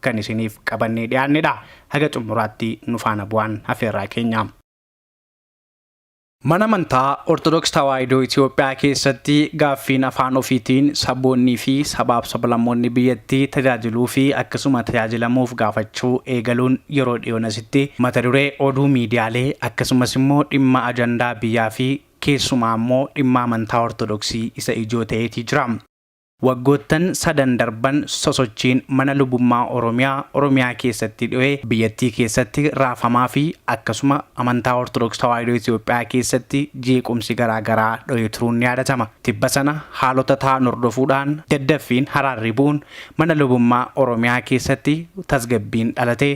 kan isiniif qabannee dhiyaannedha. Haga xumuraatti nu faana bu'aan afeerraa keenya. Mana amantaa Ortodoks Tawaahidoo Itoophiyaa keessatti gaaffiin afaan ofiitiin saboonnii fi sabaaf sablammoonni biyyattii tajaajiluu fi akkasuma tajaajilamuuf gaafachuu eegaluun yeroo dhiyoon asitti mata duree oduu miidiyaalee akkasumas immoo dhimma ajandaa biyyaa fi keessumaa immoo dhimma amantaa Ortodoksii isa ijoo ta'eetii jira. Waggoottan sadan darban sosochiin mana lubummaa Oromiyaa Oromiyaa keessatti dhohe biyyattii keessatti raafamaa fi akkasuma amantaa Ortodoks Tawaahidoo Itoophiyaa keessatti jeequmsi garaa garaa dhohee turuun ni yaadatama. Tibba sana haalota tahan hordofuu dhaan daddaffiin haraarri bu'uun mana lubummaa Oromiyaa keessatti tasgabbiin dhalatee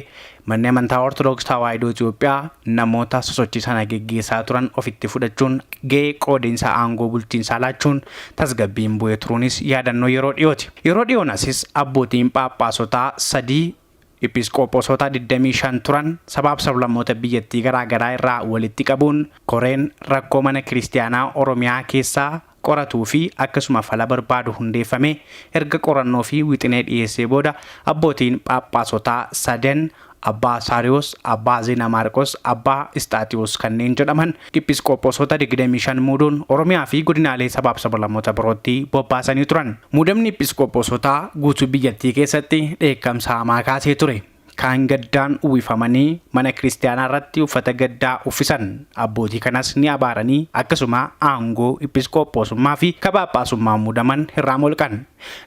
Manni Amantaa Ortodoks Tawaahidoo Itiyoophiyaa namoota sosochii sana geggeessaa turan ofitti fudhachuun gahee qoodinsa aangoo bulchiinsaa laachuun tasgabbiin bu'ee turuunis yaadannoo yeroo dhiyooti. Yeroo dhiyoon asis abbootiin phaaphaasotaa sadii Iphisqoophosota 25 turan sabaaf sablammoota biyyattii garaa garaa irraa walitti qabuun koreen rakkoo mana kiristiyaanaa Oromiyaa keessaa qoratuu fi akkasuma fala barbaadu hundeeffamee erga qorannoo fi wixinee dhiyeessee booda abbootiin phaaphaasotaa sadan Abbaa Saariyoos, Abbaa Zeena Maarqos, Abbaa Isxaaxiyoos kanneen jedhaman Iphisqoophoosota 25 muuduun Oromiyaa fi godinaalee sabaaf sabalamoota birootti bobbaasanii turan. Muudamni Iphisqoophoosotaa guutuu biyyattii keessatti dheekkamsa hamaa kaasee ture. Kaan gaddaan uwwifamanii mana kiristiyaanaa irratti uffata gaddaa uffisan. Abbootii kanas ni abaaranii akkasuma aangoo iphisqoophoosummaa fi ka phaaphaasummaan muudaman irraa molqan.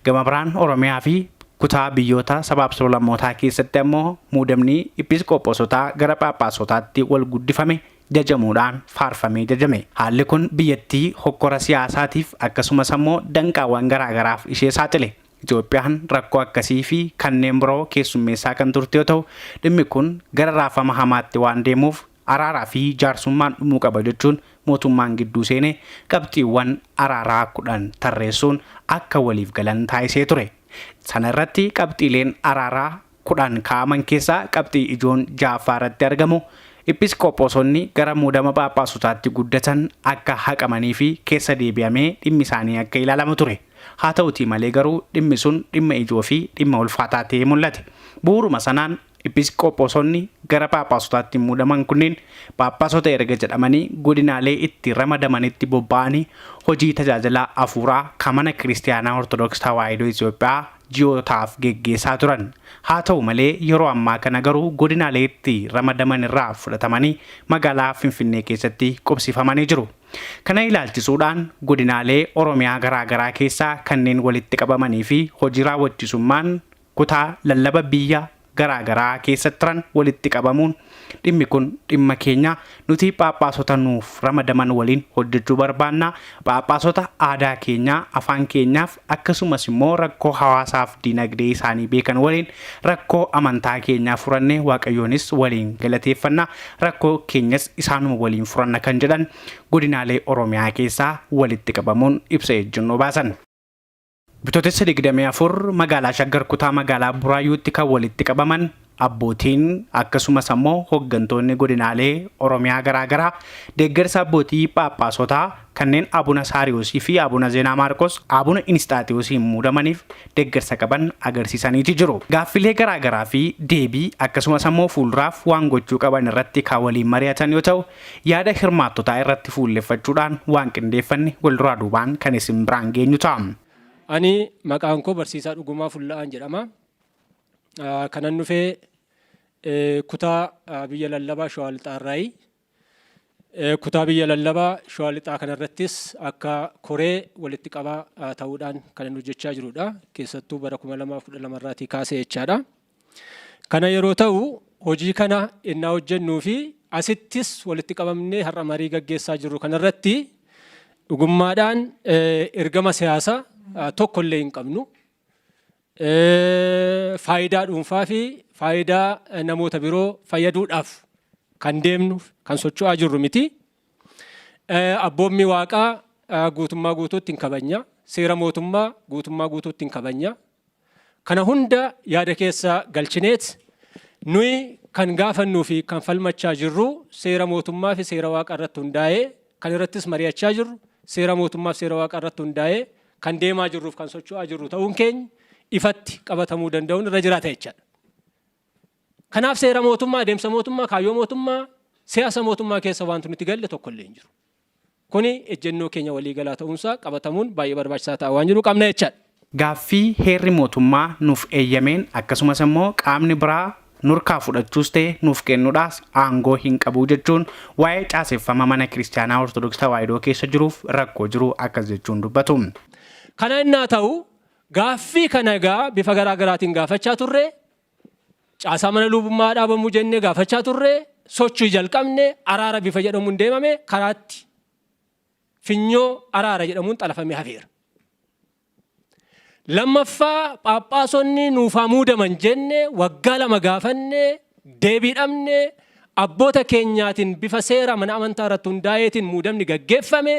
Gama biraan Oromiyaa fi kutaa biyyoota sabaaf sablammootaa keessatti ammoo muudamni iphisqoophoosotaa gara phaaphaasotaatti wal guddifame jajamuudhaan faarfamee jajame. Haalli kun biyyattii hokkora siyaasaatiif akkasumas ammoo danqaawwan garaa garaaf ishee saaxile. Itoophiyaan rakkoo akkasii fi kanneen biroo keessummeessaa kan turte yoo ta'u, dhimmi kun gara raafama hamaatti waan deemuuf araaraa fi jaarsummaan dhumuu qaba jechuun mootummaan gidduu seenee qabxiiwwan araaraa 10 tarreessuun akka waliif galan taasisee ture. Sana irratti qabxiileen araaraa 10 kaa'aman keessaa qabxii ijoon 6ffaa irratti argamu, Iphiisqoophoosonni gara muudama phaaphaasotaatti guddatan akka haqamanii fi keessa deebi'amee dhimmi isaanii akka ilaalamu ture. Haa ta'utii malee garuu dhimmi sun dhimma ijoo fi dhimma ulfaataa ta'ee mul'ate. Bu'uuruma sanaan Iphiisqoophoosonni gara phaaphaasotaatti muudaman kunniin phaaphaasota erga jedhamanii godinaalee itti ramadamanitti bobba'anii hojii tajaajila afuuraa ka Mana Kiristiyaanaa Ortodooks Tawaahidoo Itiyoophiyaa ji'ootaaf geggeessaa turan. Haa ta'u malee yeroo ammaa kana garuu godinaalee itti ramadaman irraa fudhatamanii magaalaa Finfinnee keessatti qubsifamanii jiru. Kana ilaalchisuudhaan godinaalee Oromiyaa garaa garaa keessaa kanneen walitti qabamanii fi hojii raawwachisummaan kutaa lallaba biyya garaa garaa keessa turan walitti qabamuun dhimmi kun dhimma keenya nuti phaaphaasota nuuf ramadaman waliin hojjechuu barbaanna phaaphaasota aadaa keenya afaan keenyaaf akkasumas immoo rakkoo hawaasaaf diinagdee isaanii beekan waliin rakkoo amantaa keenyaa furannee waaqayyoonis waliin galateeffanna rakkoo keenyas isaanuma waliin furanna kan jedhan godinaalee oromiyaa keessaa walitti qabamuun ibsa ejjennoo baasan. Bitootessa 24 magaalaa Shaggar kutaa magaalaa Buraayyuutti kan walitti qabaman abbootiin akkasumas ammoo hoggantoonni godinaalee Oromiyaa garaa garaa deeggarsa abbootii phaaphaasotaa kanneen Abuna Saariyoosii fi Abuna Zeenaa Maarqos Abuna Inisxaaxiyoosiin muudamaniif deeggarsa qaban agarsiisaniiti jiru. Gaaffilee garaa garaa fi deebii akkasumas ammoo fuulduraaf waan gochuu qaban irratti kan waliin mari'atan yoo ta'u, Yaada hirmaattotaa irratti fuulleffachuudhaan waan qindeeffanne walduraa duubaan kan isin biraan geenyu ta'a. Ani maqaan koo barsiisaa Dhugumaa Fulla'aan jedhama. Kanan dhufe kutaa biyya lallabaa Shawaa Lixaa irraayi. Kutaa biyya lallabaa Shawaa Lixaa kanarrattis akka koree walitti qabaa ta'uudhaan kanan hojjechaa jirudha. Keessattuu bara 2012 irraatii kaasee jechaadha. Kana yeroo ta'u, hojii kana ennaa hojjennuu fi asittis walitti qabamnee har'a marii gaggeessaa jirru kana irratti dhugummaadhaan ergama siyaasa tokko illee hin qabnu. Faayidaa dhuunfaa fi faayidaa namoota biroo fayyaduudhaaf kan deemnu kan socho'aa jirru miti. Abboommii waaqaa guutummaa guutuutti hin kabajna. Seera mootummaa guutummaa guutuutti hin kabajna. Kana hunda yaada keessa galchineet nuyi kan gaafannuu fi kan falmachaa jirru seera mootummaa fi seera waaqa irratti hundaa'ee kan irrattis mari'achaa jirru seera mootummaa fi seera waaqa irratti hundaa'ee kan deemaa jirruuf kan socho'aa jirru ta'uun keenya ifatti qabatamuu danda'uun irra jiraata jechaadha. Kanaaf seera mootummaa, adeemsa mootummaa, kaayyoo mootummaa, siyaasa mootummaa keessa wanti nuti galle tokko illee hin jiru. Kuni ejjennoo keenya waliigalaa ta'uunsaa qabatamuun baay'ee barbaachisaa ta'aa waan jiru qabna jechaadha. Gaaffii heerri mootummaa nuuf eeyyameen akkasumas immoo qaamni biraa nurkaa fudhachuus ta'e nuuf kennudhaas aangoo hin qabu jechuun waa'ee caaseffama Mana Kiristiyaanaa Ortodoksii Tawaahidoo keessa jiruuf rakkoo jiru akkas jechuun dubbatu. Kana ennaa ta'u gaaffii kana egaa bifa garaa garaatiin gaafachaa turre. Caasaa mana luubummaa haa dhaabamu jennee gaafachaa turre, sochii jalqabne, araara bifa jedhamuun deemame, karaatti finyoo araara jedhamuun xalafamee hafeera. Lammaffaa phaaphaasonni nuuf haa muudaman jenne waggaa lama gaafanne, deebii dhabne, abboota keenyaatiin bifa seera mana amantaa irratti hundaa'eetiin muudamni gaggeeffame,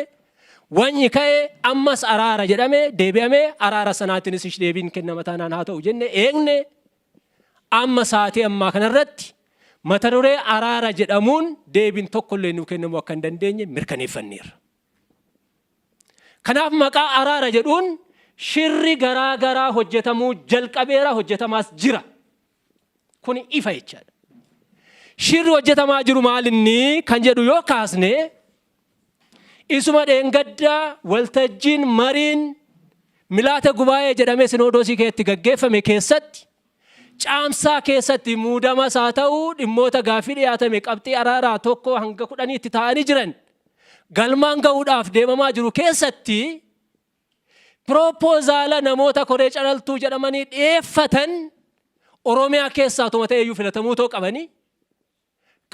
Wany'i ka'e, ammas araara jedhame, deebi'ame, araara sanaatinis ish deebiin kennama taanaan haa ta'u jenne eegne. Amma saatii ammaa kanarratti mata duree araara jedhamuun deebiin tokkollee nuu kennamuu akka hin dandeenye mirkaneeffanneerra. Kanaaf maqaa araara jedhuun shirri garaa garaa hojjetamuu jalqabeera, hojjetamaas jira. Kun ifa jechaadha. Shirri hojjetamaa jiru maalinni kan jedhu yoo kaasne isuma dheengaddaa waltajjiin mariin milaate gubaa'ee jedhamee sinoodoosii keessatti gaggeeffame keessatti caamsaa keessatti muudamas haa ta'u dhimmoota gaaffii dhiyaatame qabxii araaraa tokko hanga kudhaniitti taa'anii jiran galmaan ga'uudhaaf deemamaa jiru keessatti Pirooppozaala namoota koree calaltuu jedhamanii dhiyeeffatan Oromiyaa keessaa otuma ta'eeyyuu filatamuu otoo qabanii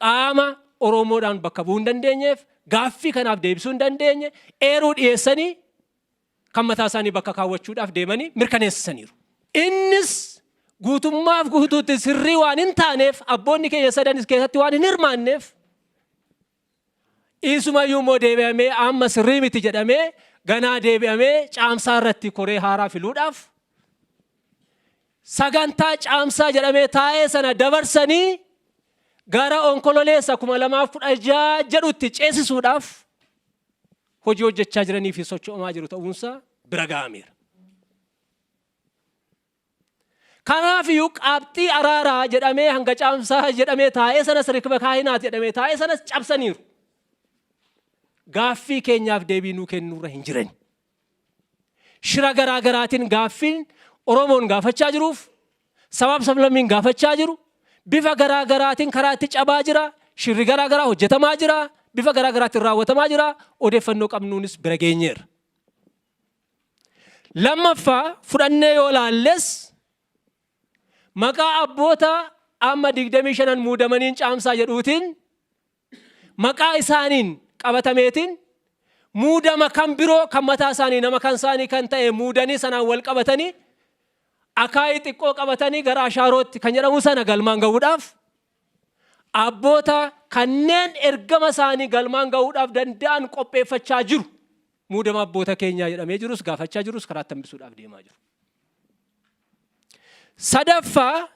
qaama Oromoodhaan bakka bu'uu hin dandeenyeef gaaffii kanaaf deebisuu hin dandeenye eeruu dhiyeessanii kan mataa isaanii bakka kaawwachuudhaaf deemanii mirkaneessisaniiru. Innis guutummaaf guutuutti sirrii waan hin taaneef abboonni keenya sadanis keessatti waan hin hirmaanneef Isumayyuu immoo deebi'amee amma sirrii miti jedhamee ganaa deebi'amee caamsaa irratti koree haaraa filuudhaaf sagantaa caamsaa jedhamee taa'ee sana dabarsanii gara onkololeessa 2016 jedhutti ceesisuudhaaf hojii hojjechaa jiranii fi socho'amaa jiru ta'uunsaa bira ga'ameera. Kanaaf iyyuu qaabxii araaraa jedhamee hanga caamsaa jedhamee taa'ee sanas rikba kaahinaati jedhamee taa'ee sanas cabsaniiru. Gaaffii keenyaaf deebii nuu kennuurra hin jirani. Shira garaa garaatiin gaaffiin Oromoon gaafachaa jiruuf sabaaf sablammiin gaafachaa jiru bifa garaa garaatiin karaa itti cabaa jira. Shirri garaa garaa hojjetamaa jira. Bifa garaa garaatiin raawwatamaa jira. Odeeffannoo qabnuunis bira geenyeerra. Lammaffaa fudhannee yoo laalles maqaa abboota amma 25n muudamaniin caamsaa jedhuutiin maqaa isaaniin qabatameetiin muudama kan biroo kan mataa isaanii nama kan isaanii kan ta'e muudanii sanaan wal qabatanii akaayii xiqqoo qabatanii gara ashaarootti kan jedhamu sana galmaan ga'uudhaaf Abboota kanneen ergama isaanii galmaan gahuudhaaf danda'an qopheeffachaa jiru. Muudama abboota keenyaa jedhamee jirus gaafachaa jirus karaatti hambisuudhaaf deemaa jiru. Sadaffaa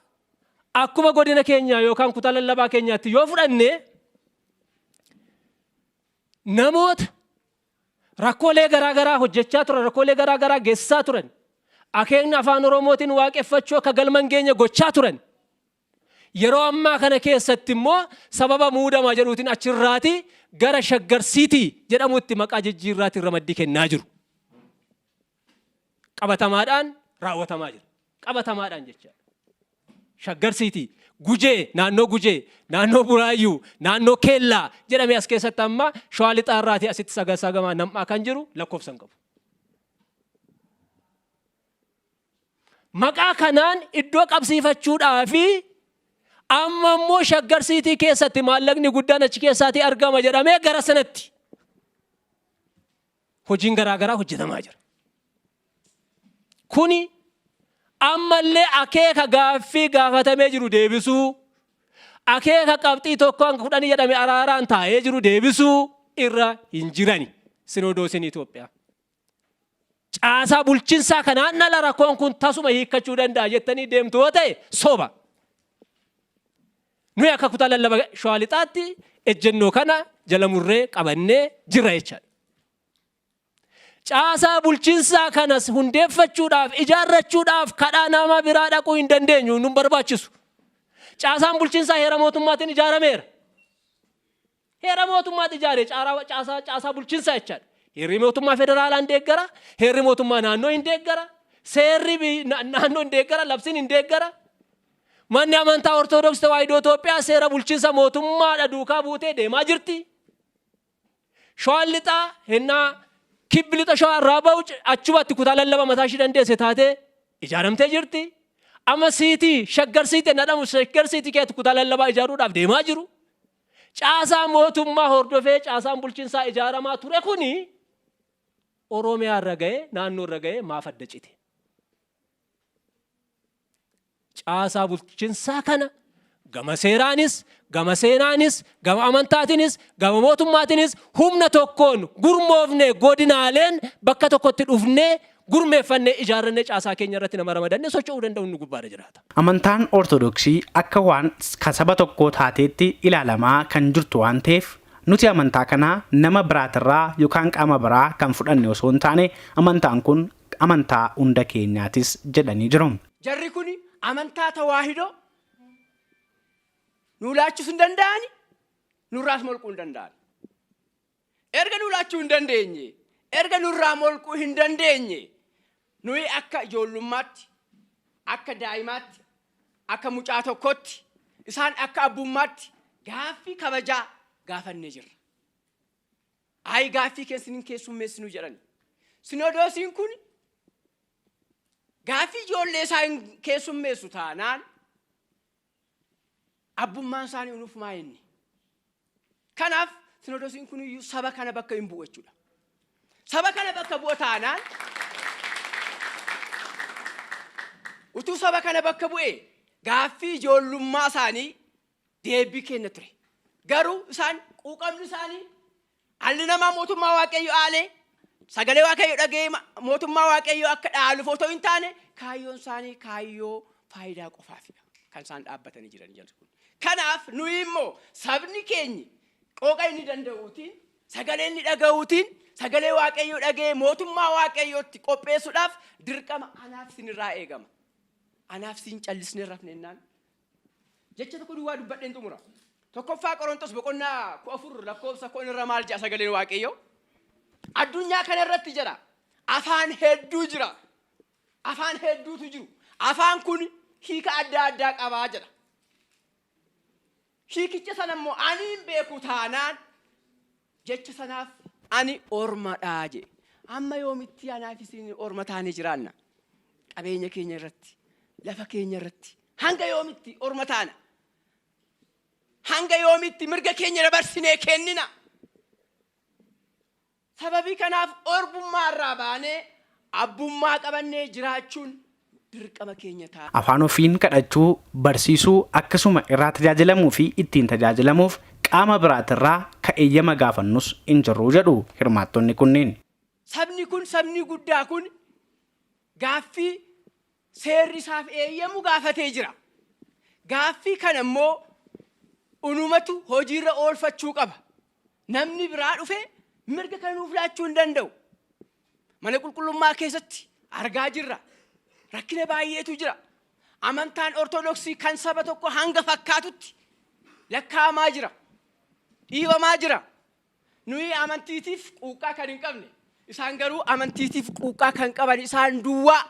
akkuma godina keenyaa yookaan kutaa lallabaa keenyaatti yoo fudhanne namoota rakkoolee garaa garaa hojjechaa turan rakkoolee garaa garaa geessisaa turan akeekni afaan oromootiin waaqeffachuu akka galman geenye gochaa turan Yeroo ammaa kana keessatti immoo sababa muudama jedhuutiin achirraati gara Shaggar City jedhamutti maqaa jijjiirraatiin ramaddii kennaa jiru. Qabatamaadhaan raawwatamaa jira. Qabatamaadhaan jecha. Shaggar City, Gujee, naannoo Gujee, naannoo Buraayyuu, naannoo Keellaa jedhamee as keessatti amma Shawaa Lixaarraatii asitti sagasagamaa nam'aa kan jiru lakkoofsa hin qabu. Maqaa kanaan iddoo qabsiifachuudhaa fi amma immoo shaggar siitii keessatti maallaqni guddaan achi keessaatii argama jedhamee gara sanatti hojiin garaagaraa hojjetamaa jira. Kuni ammallee akeeka gaaffii gaafatamee jiru deebisuu, akeeka qabxii tokko hanga kudhanii jedhame araaraan taa'ee jiru deebisuu irra hin jirani sinoodoosiin Itoophiyaa. Caasaa bulchinsaa kanaan ala rakkoon kun tasuma hiikkachuu danda'a jettanii deemtu yoo ta'e soba. Nuyi akka kutaa lallaba shawaa lixaatti ejjennoo kana jala murree qabannee jirra jechaadha. Caasaa bulchinsaa kanas hundeeffachuudhaaf ijaarrachuudhaaf kadhaa nama biraa dhaquu hin dandeenyu nun barbaachisu. Caasaan bulchinsaa heera mootummaatiin ijaarameera. Heera mootummaati ijaare caaraa caasaa caasaa bulchinsaa jechaadha. Heerri mootummaa federaalaa hin deeggara, heerri mootummaa naannoo hin deeggara, seerri bi- na- naannoo hin deeggara, labsiin hin deeggara. Manni amantaa Ortoodooksii Tawaahidoo Itoophiyaa seera bulchinsa mootummaadha duukaa buutee deemaa jirti. Shawaan lixaa hennaa kibbi lixa shawaa irraa ba'u c- achumatti kutaa lallaba mataa ishii dandeesse taatee ijaaramtee jirti. Amma siitii shaggar siitii jedhamu shaggar siitii keessatti kutaa lallabaa ijaaruudhaaf deemaa jiru. Caasaa mootummaa hordofee caasaan bulchinsaa ijaaramaa ture kuni Oromiyaa irra ga'e, naannoo irra ga'e maaf adda cite? Caasaa bulchinsaa kana gama seeraanis, gama seenaanis, gama amantaatinis, gama mootummaatinis humna tokkoon gurmoofne godinaaleen bakka tokkotti dhufnee gurmeeffannee, ijaarrannee caasaa keenya irratti nama ramadanne socho'uu danda'u inni gubbaarra jiraata. Amantaan Ortodoksii akka waan ka saba tokkoo taateetti ilaalamaa kan jirtu waan ta'eef, nuti amantaa kana nama biraatirraa yokaan qaama biraa kan fudhanne osoo hin taane, amantaan kun amantaa hunda keenyaatis jedhanii jiru. Jarri kun amantaa Tawaahidoo nuu laachus hin danda'ani, nurraas molquu hin danda'ani. Erga nuu laachuu hin dandeenye, erga nurraa molquu hin dandeenye, nuyi akka ijoollummaatti, akka daa'imaatti, akka mucaa tokkootti, isaan akka abbummaatti gaaffii kabajaa gaafannee jirra. Ayi gaaffii keen sin hin keessummeessinu jedhani. Sinoodoosiin kun gaaffii ijoollee isaa hin keessummeessu taanaan Abbummaan isaanii unufumaa inni. Kanaaf sinodosiin kun iyyuu saba kana bakka hin bu'u jechuudha. Saba kana bakka bu'a taanaan utuu saba kana bakka bu'e gaaffii ijoollummaa isaanii deebii kenna ture. Garuu isaan quuqamni isaanii Dhalli namaa mootummaa Waaqayyo aalee sagalee Waaqayyo dhaga'ee ma- mootummaa Waaqayyo akka dhaaluuf otoo hin taane kaayyoon isaanii kaayyoo faayidaa qofaafidha. Kan isaan dhaabbatanii jiran jedhu kun. Kanaaf nuyi immoo sabni keenyi qooqa inni danda'uutiin sagalee inni dhaga'uutiin sagalee Waaqayyo dhaga'ee mootummaa Waaqayyootti qopheessuudhaaf dirqama anaaf isinirraa eegama. Anaaf isin callisnee rafne innaan Jecha tokko duwwaa dubbadheen xumura. Tokkoffaa Qorontos boqonnaa kudha afur lakkoofsa kudhan irra maal jedha sagaleen Waaqayyo? Addunyaa kana irratti jedha afaan hedduu jira. Afaan hedduutu jiru. Afaan kun hiika adda addaa qabaa jedha. Hiikicha sana immoo ani hin beeku taanaan jecha sanaaf ani orma dha jedhe. Amma yoomitti anaa fi isin orma taanee jiraanna? Qabeenya keenya irratti, lafa keenya irratti hanga yoomitti orma taana? Hanga yoomitti mirga keenya dabarsinee kennina? Sababii kanaaf orbummaa irraa baanee abbummaa qabannee jiraachuun dirqama keenya ta'a. Afaan ofiin kadhachuu, barsiisuu, akkasuma irraa tajaajilamuu fi ittiin tajaajilamuuf qaama biraatirraa ka eeyyama gaafannus hin jirru jedhu hirmaattonni kunneen. Sabni kun, sabni guddaa kun gaaffii seerri isaaf eeyyamu gaafatee jira. Gaaffii kana immoo unumatu hojiirra oolfachuu qaba. Namni biraa dhufee mirga kana nuuf laachuu hin danda'u. Mana qulqullummaa keessatti argaa jirra. Rakkina baay'eetu jira. Amantaan Ortodoksii kan saba tokko hanga fakkaatutti lakkaa'amaa jira. Dhiibamaa jira. Nuyi amantiitiif quuqqaa kan hin qabne. Isaan garuu amantiitiif quuqqaa kan qaban isaan duwwaa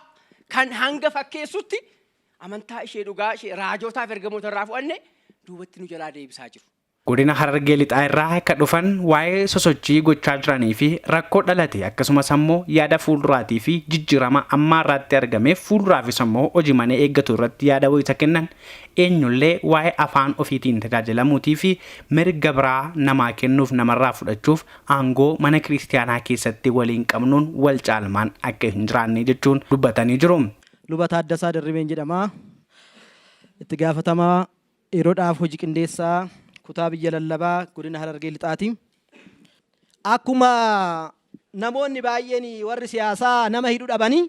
kan hanga fakkeessutti amantaa ishee dhugaa ishee raajootaaf ergamoota irraa fu'anne duubatti nu jalaa deebisaa jiru. Godina Harargee Lixaa irraa ka dhufan waa'ee sosochii gochaa jiranii fi rakkoo dhalate akkasumas ammoo yaada fuulduraatii fi jijjiirama ammaa irraatti argameef fuulduraafis ammoo hojimanee eeggatu irratti yaada wayita kennan eenyullee waa'ee afaan ofiitiin tajaajilamuutii fi mirga biraa namaa kennuuf namarraa fudhachuuf aangoo mana kiristiyaanaa keessatti waliin qabnuun wal caalmaan akka hin jiraanne jechuun dubbatanii jiru. Luba Taaddasaa Dirribeen jedhama. Itti gaafatamaa Dheerodhaaf hoji qindeessaa kutaa biyya lallabaa godina Harargee Lixaati. Akkuma namoonni baay'een warri siyaasaa nama hidhu dhabanii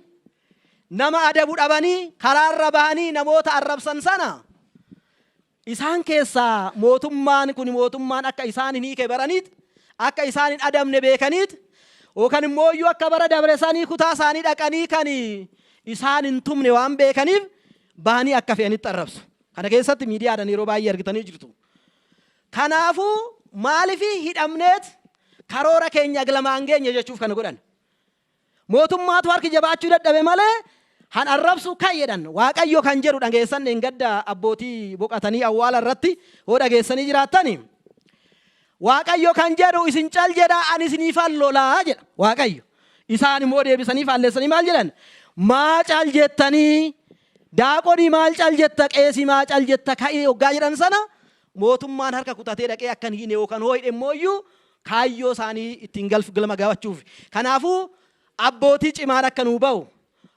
nama adabu dhabanii karaarra bahanii namoota arrabsan sana isaan keessaa mootummaan kun mootummaan akka isaan hin hiike baraniit akka isaan hin adabne beekaniit yookaan immoo iyyuu akka bara dabresanii kutaa isaanii dhaqanii kan isaan hin tumne waan beekaniif bahanii akka fe'anitti arrabsu. Kana keessatti miidiyaadhan yeroo baay'ee argitanii jirtu. Kanaafuu maaliif hidhamneet karoora keenya glamaan geenye jechuuf kana godhan. Mootummaatu harki jabaachuu dadhabe malee han arrabsu kan jedhan waaqayyo kan jedhu dhageessan dheengadda abbootii boqatanii awwaala irratti hoo dhageessanii jiraattani. Waaqayyo kan jedhu, Isin cal jedhaa, ani isiniifan lola jedha Waaqayyo. Isaan immoo deebisanii faallessanii maal jedhan? Maa cal jettanii? Daaqonii maal cal jetta? Qeesii maa cal jetta? Ka'ii hoggaa jedhan sana mootummaan harka kutatee dhaqee akka hin hiine yookaan hoo hidhe immoo iyyuu kaayyoo isaanii ittiin galf galma gabachuuf. Kanaafuu abbootii cimaan akka nuu ba'u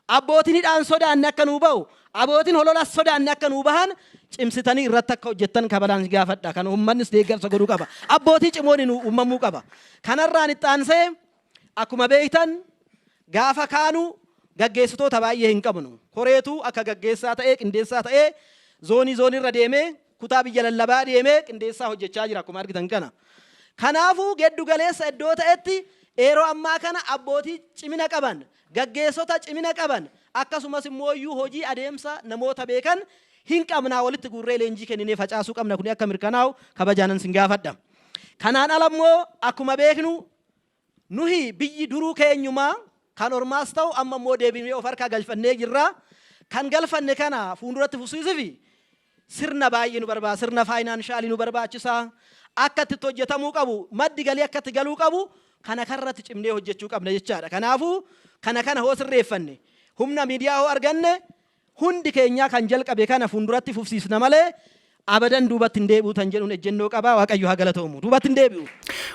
Abbootiin hidhaan sodaanne akka nuu bahu, abootiin hololas sodaanne akka nuu bahan cimsitanii irratti akka hojjettan kabalaan gaafadha. Kana uummannis deeggarsa godhuu qaba. Abbootii cimooni nuu uumamuu qaba. Kanarraan itti aansee akkuma beektan gaafa kaanu gaggeessitoota baay'ee hin qabnu. Koreetu akka gaggeessaa ta'ee qindeessaa ta'ee zoonii zoonirra deemee kutaa biyya lallabaa deemee qindeessaa hojjechaa jira akkuma argitan kana. Kanaafuu geddu galeessa iddoo ta'etti yeroo ammaa kana abbootii cimina qaban Gaggeessota cimina qaban akkasumas immooyyuu hojii adeemsa namoota beekan hin qabnaa walitti guurree leenjii kenninee facaasuu qabna kuni akka mirkanaa'u kabajaanan sin gaafadha. Kanaan ala immoo akkuma beeknu nuhi biyyi duruu keenyumaa kan ormaas ta'u amma immoo deebinee of harkaa galfannee jirra. Kan galfanne kana fuunduratti fufsiisufi Sirna baay'ee nu barbaachisa. Sirna faayinaanshaali nu barbaachisa. Akka itti itti hojjetamuu qabu, maddi galii akka itti galuu qabu kana kanarratti cimnee hojjechuu qabna jechaadha. Kanaafuu kana kana hoo sirreeffanne, humna miidiyaa hoo arganne hundi keenyaa kan jalqabe kana fuulduratti fufsiisna malee abadan duubatti hin deebi'u tan jedhuun ejjennoo qaba. Waaqayyo haa galatoomu. Duubatti hin deebi'u.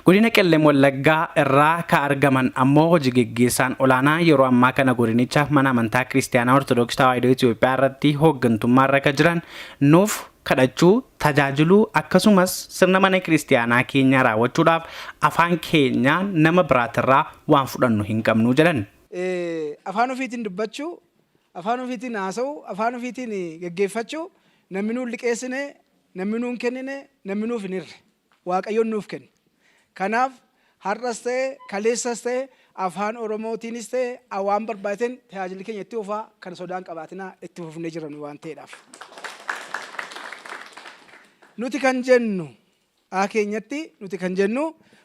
Godina Qellem Wallaggaa irraa ka argaman ammoo hoji geggeessaan olaanaa yeroo ammaa kana godinicha mana amantaa Kiristiyaanaa Ortodoks Tawaahidoo Itiyoophiyaa irratti hooggantummaarra ka jiran nuuf kadhachuu, tajaajiluu akkasumas sirna mana kiristiyaanaa keenyaa raawwachuudhaaf afaan keenyaa nama biraatirraa waan fudhannu hin qabnu jedhan. Afaan ufiitiin dubbachuu, afaan ufiitiin haasawuu, afaan ufiitiin geggeeffachuu nammi nuun liqeessine, nammi nuun kennine, nammi nuuf hin hirre. Waaqayyoon nuuf kenne. Kanaaf har'as ta'e kaleessas ta'e afaan oromootiinis ta'e waan barbaachiteen tajaajilli keenya itti fufaa kan sodaan qabaatinaa itti fufnee jirra nu waan ta'eedhaaf. Nuti kan jennu aa keenyatti nuti kan jennu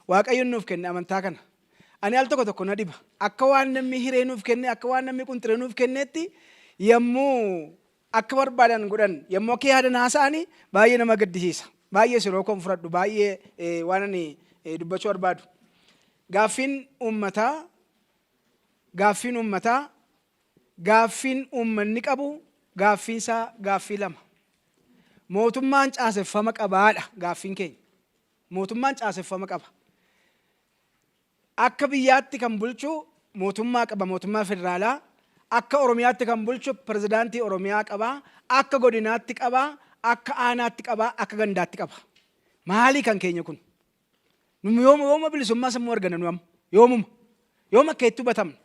waaqayyoon nuuf kenne amantaa kana. Ani al tokko tokko na dhiba. Akka waan namni hiree nuuf kenne akka waan namni qunxiree nuuf kenneetti yommuu akka barbaadan godhan yommuu akka yaadan haasa'ani baay'ee nama gaddisiisa. Baay'ees yeroo koon fudhadhu baay'ee eh, waan ani eh, dubbachuu barbaadu. Gaaffiin uummataa gaaffiin uummataa gaaffiin uummanni qabu gaaffiinsaa gaaffii lama. Mootummaan caaseffama qabaadha gaaffiin keenya. Mootummaan caaseffama qaba. Akka biyyaatti kan bulchu mootummaa qaba, mootummaa federaalaa. Akka Oromiyaatti kan bulchu pirezidaantii Oromiyaa qaba. Akka godinaatti qaba, akka aanaatti qaba, akka gandaatti qaba. Maalii kan keenya kun? Nu yooma yooma bilisummaa sammuu argana nu amma. Yoomuma. Yooma akka itti hubatamna.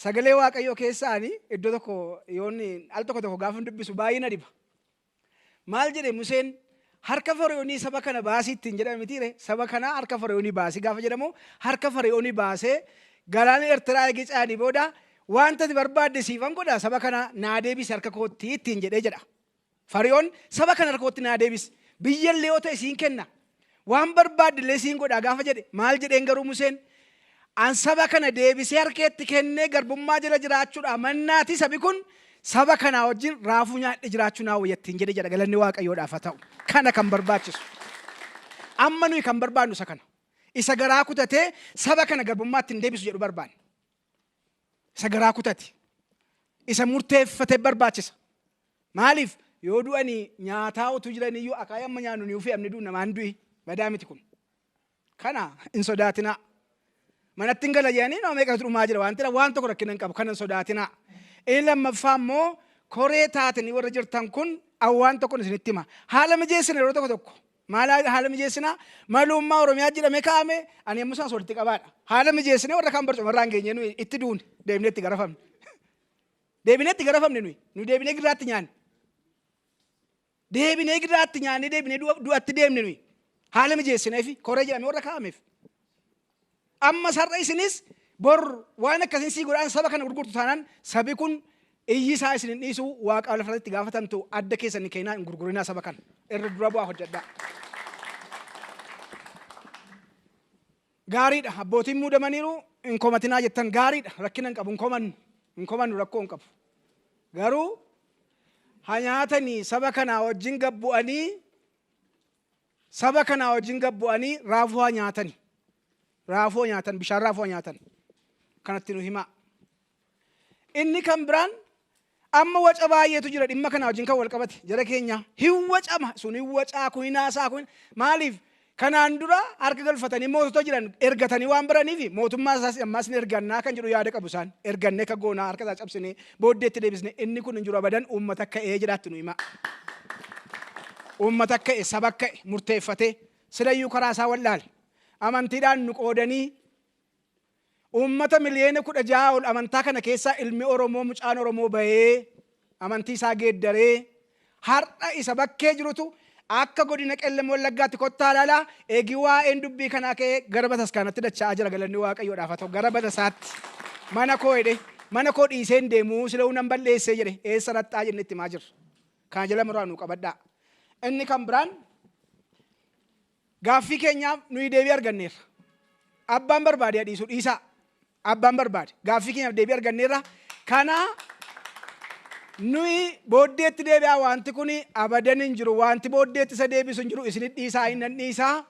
Sagalee Waaqayyoo keessaani iddoo tokko yoon al tokko tokko gaafan dubbisu baay'ee na dhiba. Maal jedhe Museen? Harka Fara'oonii saba kana baasi ittiin jedhame mitiire? Saba kana harka Fara'oonii baasi gaafa jedhamu harka Fara'oonii baasee galaana Ertiraa eegee ce'anii booda wanta ati barbaadde siifan godha saba kana naa deebisi harka kootti ittiin jedhee jedha. Fari'oon saba kana harka kootti naa deebisi biyyallee yoo ta'e siin kenna Waan barbaadde illee siin godha gaafa jedhe maal jedheen garuu Museen? An saba kana deebisee harkeetti kennee garbummaa jala jiraachuudhaa mannaati sabi kun saba kanaa wajjin raafuu nyaadhe jiraachuu naa wayya ittiin jedhe jedha galanni waaqayyoodhaaf haa ta'u. Kana kan barbaachisu. Amma nuyi kan barbaannu isa kana. Isa garaa kutatee saba kana garbummaatti hin deebisu jedhu barbaanna. Isa garaa kutate. Isa murteeffate barbaachisa. Maaliif yoo du'anii nyaataa utuu jiraniyyuu akaayii amma nyaannu ni ufee amni du'u namaan du'i badaa miti kun. Kana hin sodaatinaa. Manatti hin gala jedhanii nama meeqatu dhumaa jira waan ta'eef waan tokko rakkina hin qabu kana hin sodaatinaa. Inni lammaffaa immoo koree taatanii warra jirtan kun awwaan tokkon isinitti hima. Haala mijeessina yeroo tokko tokko Maal haala mijeessinaa? Maluummaa Oromiyaa jedhamee kaa'ame ani yommuu sanas walitti qabaadha. Haala mijeessinee warra kaan barcuma irraa hin geenye nuyi itti duune deebinee itti garafamne. Deebinee itti garafamne nuyi nu deebinee giraatti nyaanne. Deebinee giraatti nyaannee deebinee du'atti deemne nuyi haala mijeessineefi koree jedhamee warra kaa'ameef. Ammas har'a isinis bor waan akkasiin sii godhaan saba kana gurgurtu taanaan sabi kun iyyi isaa isin hin dhiisu waaqaa lafarratti itti gaafatamtu adda keessan hin keenaa hin gurgurinaa saba kana irra dura bu'aa hojjedhaa. Gaariidha abbootiin muudamaniiru hin komatinaa jettan gaariidha rakkina hin qabu hin komannu hin komannu rakkoo hin qabu. Garuu ha nyaatanii saba kanaa wajjin gabbu'anii Saba kanaa wajjin gad bu'anii raafuu haa nyaatani. Raafuu nyaatan, bishaan raafuu nyaatan. Kanatti nu himaa. Inni kan biraan amma waca baay'eetu jira dhimma kana wajjin kan wal qabate jara keenya hin wacama sun hin wacaa kun hin haasaa kun maaliif kanaan dura harka galfatanii mootota jiran ergatanii waan baraniif mootummaa isaas ammaas ni ergannaa kan jedhu yaada qabu isaan ergannee akka goonaa harka isaa cabsinee Booddeetti deebisnee inni kun hin jiru abadan uummata ka'e jedhaatti nu himaa. Uummata ka'e, saba ka'e, murteeffatee silayyuu karaa isaa wal'aale. Amantiidhaan nu qoodanii uummata miliyoona kudha ja'a ol amantaa kana keessaa ilmi Oromoo mucaan Oromoo bahee amantii isaa geeddaree Har'a isa bakkee jirutu akka godina Qellem Wallaggaatti kottaa ilaalaa egi waa'een dubbii kanaa ka'ee gara bataskaanatti dacha'aa jira galanni waaqayyoodhaaf haa ta'u gara batasaatti mana koo jedhee mana koo dhiisee hin deemuu sila'uu nan balleessee jedhe eessa raxxaa jennee itti himaa jirra. Kana jala muraa nuu qabadhaa. Inni kan biraan Gaaffii keenyaaf nuyi deebii arganneerra. Abbaan barbaade haa dhiisu dhiisaa. Abbaan barbaade. Gaaffii keenyaaf deebii arganneerra. Kana nuyi booddeetti deebi'aa wanti kun abadan hin jiru. Wanti booddeetti isa deebisu hin jiru. Isinit dhiisaa hin nan dhiisaa.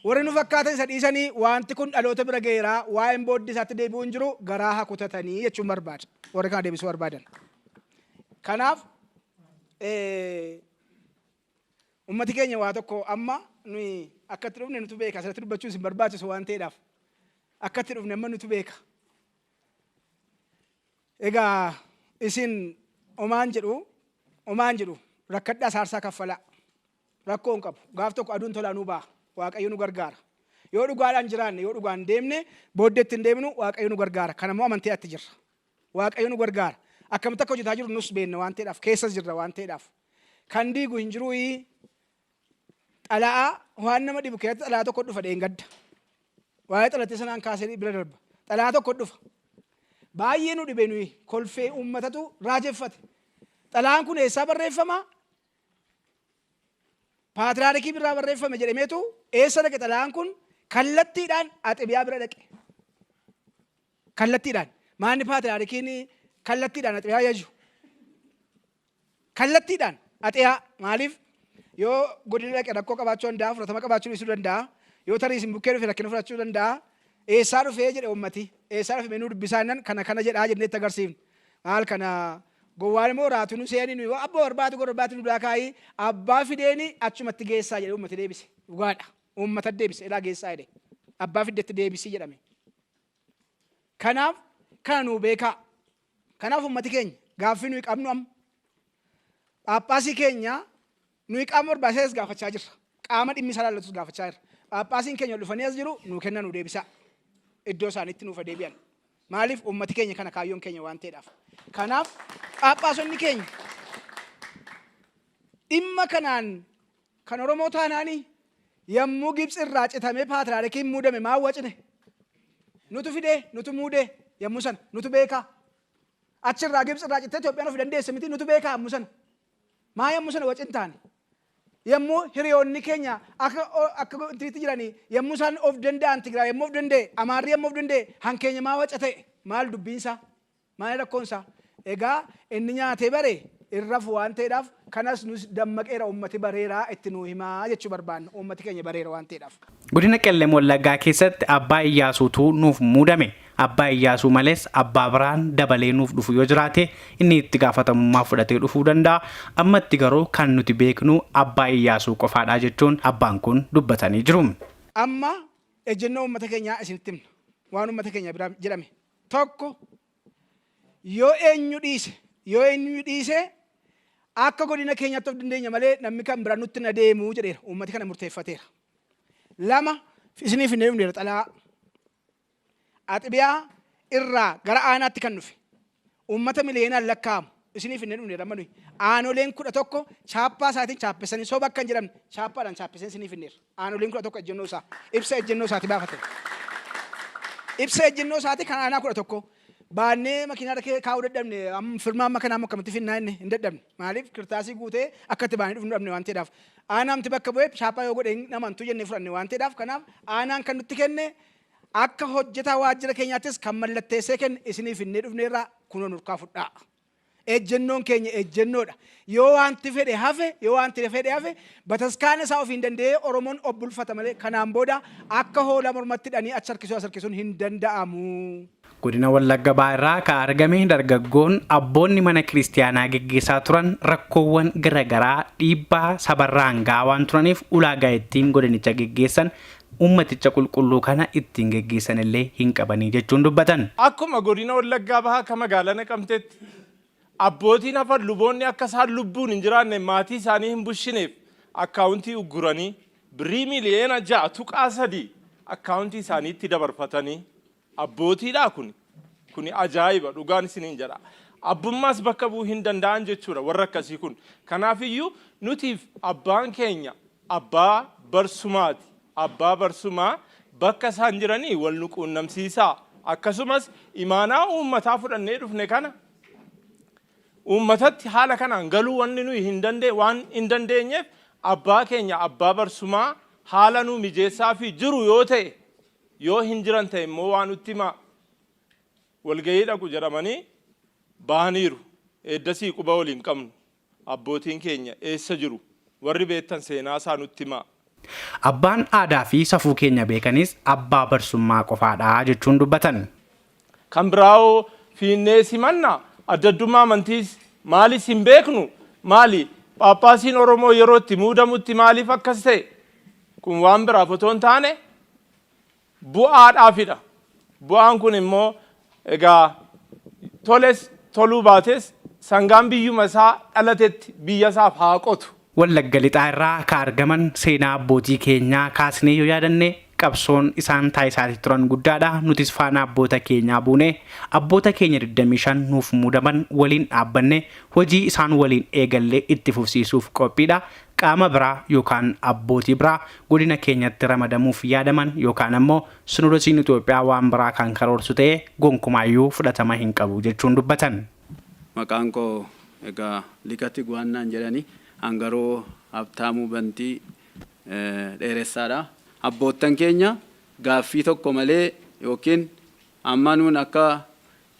Warri nu fakkaatan isa dhiisanii wanti kun dhaloota bira ga'eera. Waa'een booddee isaatti deebi'uu hin jiru. Garaa haa kutatanii jechuun barbaada. Warri kana deebisuu barbaadan. Kanaaf Ummati keenya waa tokko amma nuyi akka itti dhufne nutu beeka asirratti dubbachuun isin barbaachisu waan ta'eedhaaf akka itti dhufne amma nutu beeka. Egaa isin omaan jedhu omaan jedhu rakkadhaa saarsaa kaffalaa rakkoo hin qabu gaaf tokko aduun tolaa nuu ba'a waaqayyo nu gargaara. Yoo dhugaadhaan jiraanne yoo dhugaan deemne booddeetti hin deemnu waaqayyo nu gargaara kana immoo amantii atti jirra. Waaqayyo nu gargaara akkamitti akka hojjetaa jiru nus beenna waan ta'eedhaaf keessas jirra waan ta'eedhaaf. Kan diigu hin jiruuyii. Xala'aa waan nama dhibu keessatti xala'aa tokko dhufa dheengadda. Waa'ee xalattii sanaan kaasee bira darba. Xala'aa tokko dhufa. Baay'ee nu dhibe nuyi kolfee uummatatu raajeffate. Xala'aan kun eessaa barreeffama? Paatiraarikii birraa barreeffame jedhameetu eessa dhaqe xala'aan kun kallattiidhaan axibiyaa bira dhaqe. Kallattiidhaan. Maanni paatiraarikiin kallattiidhaan axibiyaa yaju. Kallattiidhaan axeyaa maaliif yoo godina dhaqe rakkoo qabaachuu danda'a, fudhatama qabaachuu dhiisuu danda'a, yoo tarii isin bukkee dhufe rakkina fudhachuu danda'a, eessaa dhufee jedhe uummati, eessaa dhufe mee nuu dubbisaa jennaan kana kana jedhaa jennee itti agarsiifna. Maal kana gowwaan immoo raatu nu seeni nuyi hoo abboo barbaatu gora barbaatu nu biraa kaa'ii abbaa fideeni achumatti geessaa jedhe uummati deebise. Dhugaadha. Uummata deebise ilaa geessaa jedhe. Abbaa fiddetti deebisii jedhame. Kanaaf kana nuu beekaa. Kanaaf ummati keenya gaaffii nuyi qabnu amma Phaaphaasii keenya nuyi qaama barbaachisaa as gaafachaa jirra. Qaama dhimmi isaa laallatus gaafachaa jirra. Phaaphaasiin keenya ol dhufanii as jiru nuu kenna nuu deebisaa. Iddoo isaaniitti nuuf deebi'an. Maaliif ummati keenya kana kaayyoon keenya waan ta'eedhaaf. Kanaaf Phaaphaasonni keenya dhimma kanaan Kan Oromoo taanaani yammuu Gibtsi irraa citamee paatriyaarikiin muudame maa wacne? Nutu fidee, nutu muudee yammuu sana, nutu beekaa. Achi irraa Gibtsi irraa cittee Itoophiyaan ofi dandeesse miti nutu beekaa yammuu sana. Maa yammuu sana wacin taane? Yammuu hiriyoonni keenya akka akka intinitti jiranii yammuu isaan of danda'an Tigraay yammuu of danda'e, Amaarri yammuu of danda'e han keenya maa waca ta'e? Maal dubbiin isaa? Maali rakkoon isaa? Egaa inni nyaatee bare hin rafu waan ta'eedhaaf kanas nus dammaqeera uummati bareera itti nuu himaa jechuu barbaanna. Uummati keenya bareera waan ta'eedhaaf. Godina Qellem Wallaggaa keessatti Abbaa Iyyaasuutu nuuf muudame. Abbaa Iyyaasuu malees abbaa biraan dabalee nuuf dhufu yoo jiraate inni itti gaafatamummaa fudhatee dhufuu danda'a. Ammatti garuu kan nuti beeknu Abbaa Iyyaasuu qofaadha jechuun abbaan kun dubbatanii jiru. Amma ejjennoo uummata keenyaa isinitti himna. Waan uummata keenya biraa jedhame 1 yoo eenyu dhiise yoo eenyu dhiise akka godina keenyaatti of dandeenya malee namni kan bira nutti na deemu jedheera uummati kana murteeffateera. Lama isiniif hin deemneera xalaa axibiyaa irraa gara aanaatti kan dhufe uummata miliyeenaan lakkaa'amu isiniif hin dhufne amma nuyi aanoleen kudha tokko chaappaa isaatiin chaappessanii soba akka hin jedhamne chaappaadhaan chaappessanii isiniif hin dheerra. Aanoleen kudha tokko ejjennoo isaa ibsa ejjennoo isaati baafate. Ibsa ejjennoo isaati kan aanaa kudha tokko baannee makiinaarra kee kaa'uu dadhabne amma firmaa amma kanaa akkamitti finnaa inni hin dadhabne maaliif kirtaasii guutee akka itti baanee dhufnu dhabne waan ta'eedhaaf aanaamti bakka bu'ee chaappaa yoo godhe hin amantu jennee fudhanne waan ta'eedhaaf kanaaf aanaan kan nutti kenne Akka hojjetaa waajjira keenyaattis kan mallatteessee kenne isinii finnee dhufneerra kunoo nurkaa fudhaa. Ejjennoon keenya ejjennoodha. Yoo waanti fedhe hafe, yoo waanti fedhe hafe bataskaana isaa ofiin danda'ee Oromoon of bulfata malee kanaan booda akka hoolaa mormatti hidhanii achi harkisuu as harkisuun hin danda'amu. Godina Wallagga Bahaa irraa ka argame dargaggoon abboonni mana kiristiyaanaa geggeessaa turan rakkoowwan gara garaa dhiibbaa sabarraan ga'aa waan turaniif ulaagaa ittiin godinicha geggeessan uummaticha qulqulluu kana ittiin geggeessan illee hin qabanii jechuun dubbatan. Akkuma godina Wallaggaa Bahaa ka magaalaa Naqamteetti abbootiin hafan luboonni akka isaan lubbuun hin jiraanne maatii isaanii hin bushineef akkaawuntii ugguranii birrii miiliyoona 6.3 akkaawuntii isaaniitti dabarfatanii Abbootiidhaa kuni? Kuni ajaa'iba dhugaan isiniin jedha. Abbummaas bakka bu'uu hin danda'an jechuudha warri akkasii kun. Kanaafiyyuu nutiif abbaan keenya abbaa barsumaati. Abbaa barsumaa bakka isaan jiranii wal nu quunnamsiisaa. Akkasumas imaanaa uummataa fudhannee dhufne kana uummatatti haala kanaan galuu wanni nuyi hin dandee waan hin dandeenyeef abbaa keenya abbaa barsumaa haala nuu mijeessaafii jiru yoo ta'e Yoo hin jiran ta'e immoo waa nutti himaa. Walga'ii dhaqu jedhamanii bahaniiru. Eeddasii quba wal hin qabnu. Abbootiin keenya eessa jiru? Warri beektan seenaa isaa nutti himaa. Abbaan aadaa fi safuu keenya beekanis abbaa barsummaa qofaa dha jechuun dubbatan. Kan biraa hoo fiinnee simanna? Adda addummaa amantiis maalis hin beeknu? Maali Phaaphaasiin Oromoo yeroo itti muudamutti maaliif akkas ta'e? Kun waan biraaf otoo hin taane bu'aadhaafidha. Bu'aan kun immoo egaa toles toluu baates sangaan biyyuma isaa dhalatetti biyya isaaf haa qotu. Wallagga Lixaa irraa ka argaman seenaa abbootii keenyaa kaasnee yoo yaadanne qabsoon isaan taasisaati turan guddaadha. Nutis faana abboota keenyaa buune abboota keenya 25 nuuf muudaman waliin dhaabbanne hojii isaan waliin eegalle itti fufsiisuuf qophiidha. Qaama biraa yookaan abbootii biraa godina keenyatti ramadamuuf yaadaman yookaan ammoo Sinodosiin Itoophiyaa waan biraa kan karoorsu ta'ee gonkumaayyuu fudhatama hin qabu jechuun dubbatan. Maqaan koo egaa Lika Tiguwaan naan jedhani. An garuu Habtaamuu Bantii Dheeressaadha. Abboottan keenya gaaffii tokko malee yookiin amma nuun akka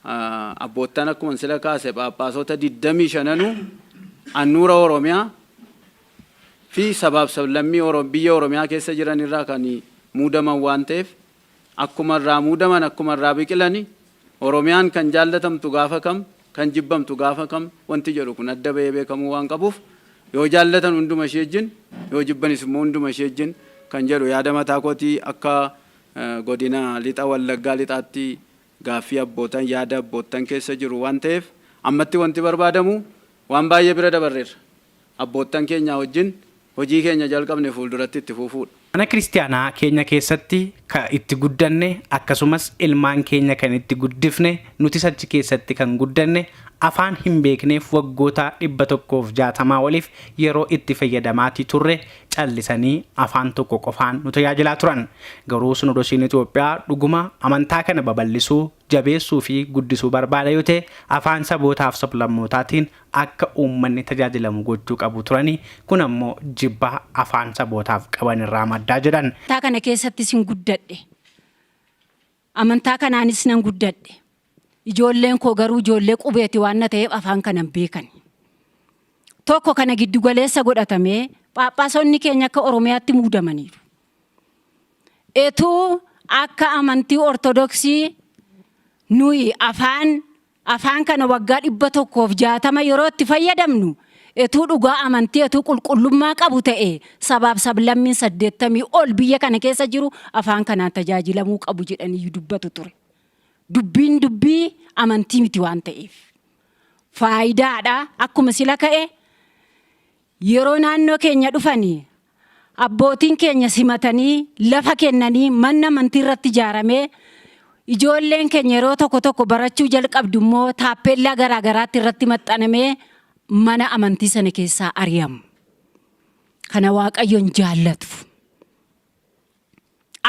Abboottan akkuman sila kaase Phaaphaasota 25nuu annuura Oromiyaa fi sabaaf sablammii biyya Oromiyaa keessa jiran irraa kan muudaman waan ta'eef akkuma irraa muudaman akkuma irraa biqilani Oromiyaan kan jaallatamtu gaafa kam kan jibbamtu gaafa kam wanti jedhu kun adda bahee beekamuu waan qabuuf yoo jaallatan hunduma ishii wajjin yoo jibbanis immoo hunduma ishii wajjin kan jedhu yaada mataa kootii akka godina lixa Wallaggaa lixaatti gaaffii abbootan yaada abboottan keessa jiru waan ta'eef ammatti wanti barbaadamu waan baay'ee bira dabarreerra. Abboottan keenyaa wajjin hojii keenya jalqabne fuulduratti itti fuufuudha. Mana Kiristiyaanaa keenya keessatti ka itti guddanne akkasumas ilmaan keenya kan itti guddifne nutis achi keessatti kan guddanne afaan hin beekneef waggoota 160 oliif yeroo itti fayyadamaati turre callisanii afaan tokko qofaan nu tajaajilaa turan. Garuu Sinodosiin Itoophiyaa dhuguma amantaa kana babal'isuu, jabeessuu fi guddisuu barbaada yoo ta'e afaan sabootaaf sablammootaatiin akka uummanni tajaajilamu gochuu qabu turani, kun ammoo jibba afaan sabootaaf qaban irraa madda jedhan. Amantaa kana keessattis hin guddadhe. Amantaa kanaanis nan guddadhe. Ijoolleen koo garuu ijoollee qubeeti waan na ta'eef afaan kana hin beekan. Tokko kana giddu galeessa godhatamee phaaphaasonni keenya akka Oromiyaatti muudamaniiru. Etuu akka amantii Ortodoksii nuyi afaan Afaan kana waggaa 160 yeroo itti fayyadamnu, etuu dhugaa amantii etuu qulqullummaa qabu ta'ee sabaaf sablammiin 80 ol biyya kana keessa jiru afaan kanaan tajaajilamuu qabu jedhaniiyyu dubbatu ture. Dubbiin dubbii amantii miti waan ta'eef. Faayidaadha akkuma sila ka'e Yeroo naannoo keenya dhufani abbootiin keenya simatanii lafa kennanii manni amantii irratti ijaaramee ijoolleen keenya yeroo tokko tokko barachuu jalqabdu immoo taappeellaa garaa garaatti irratti maxxanamee mana amantii sana keessaa ari'amu. Kana Waaqayyoon jaallatu.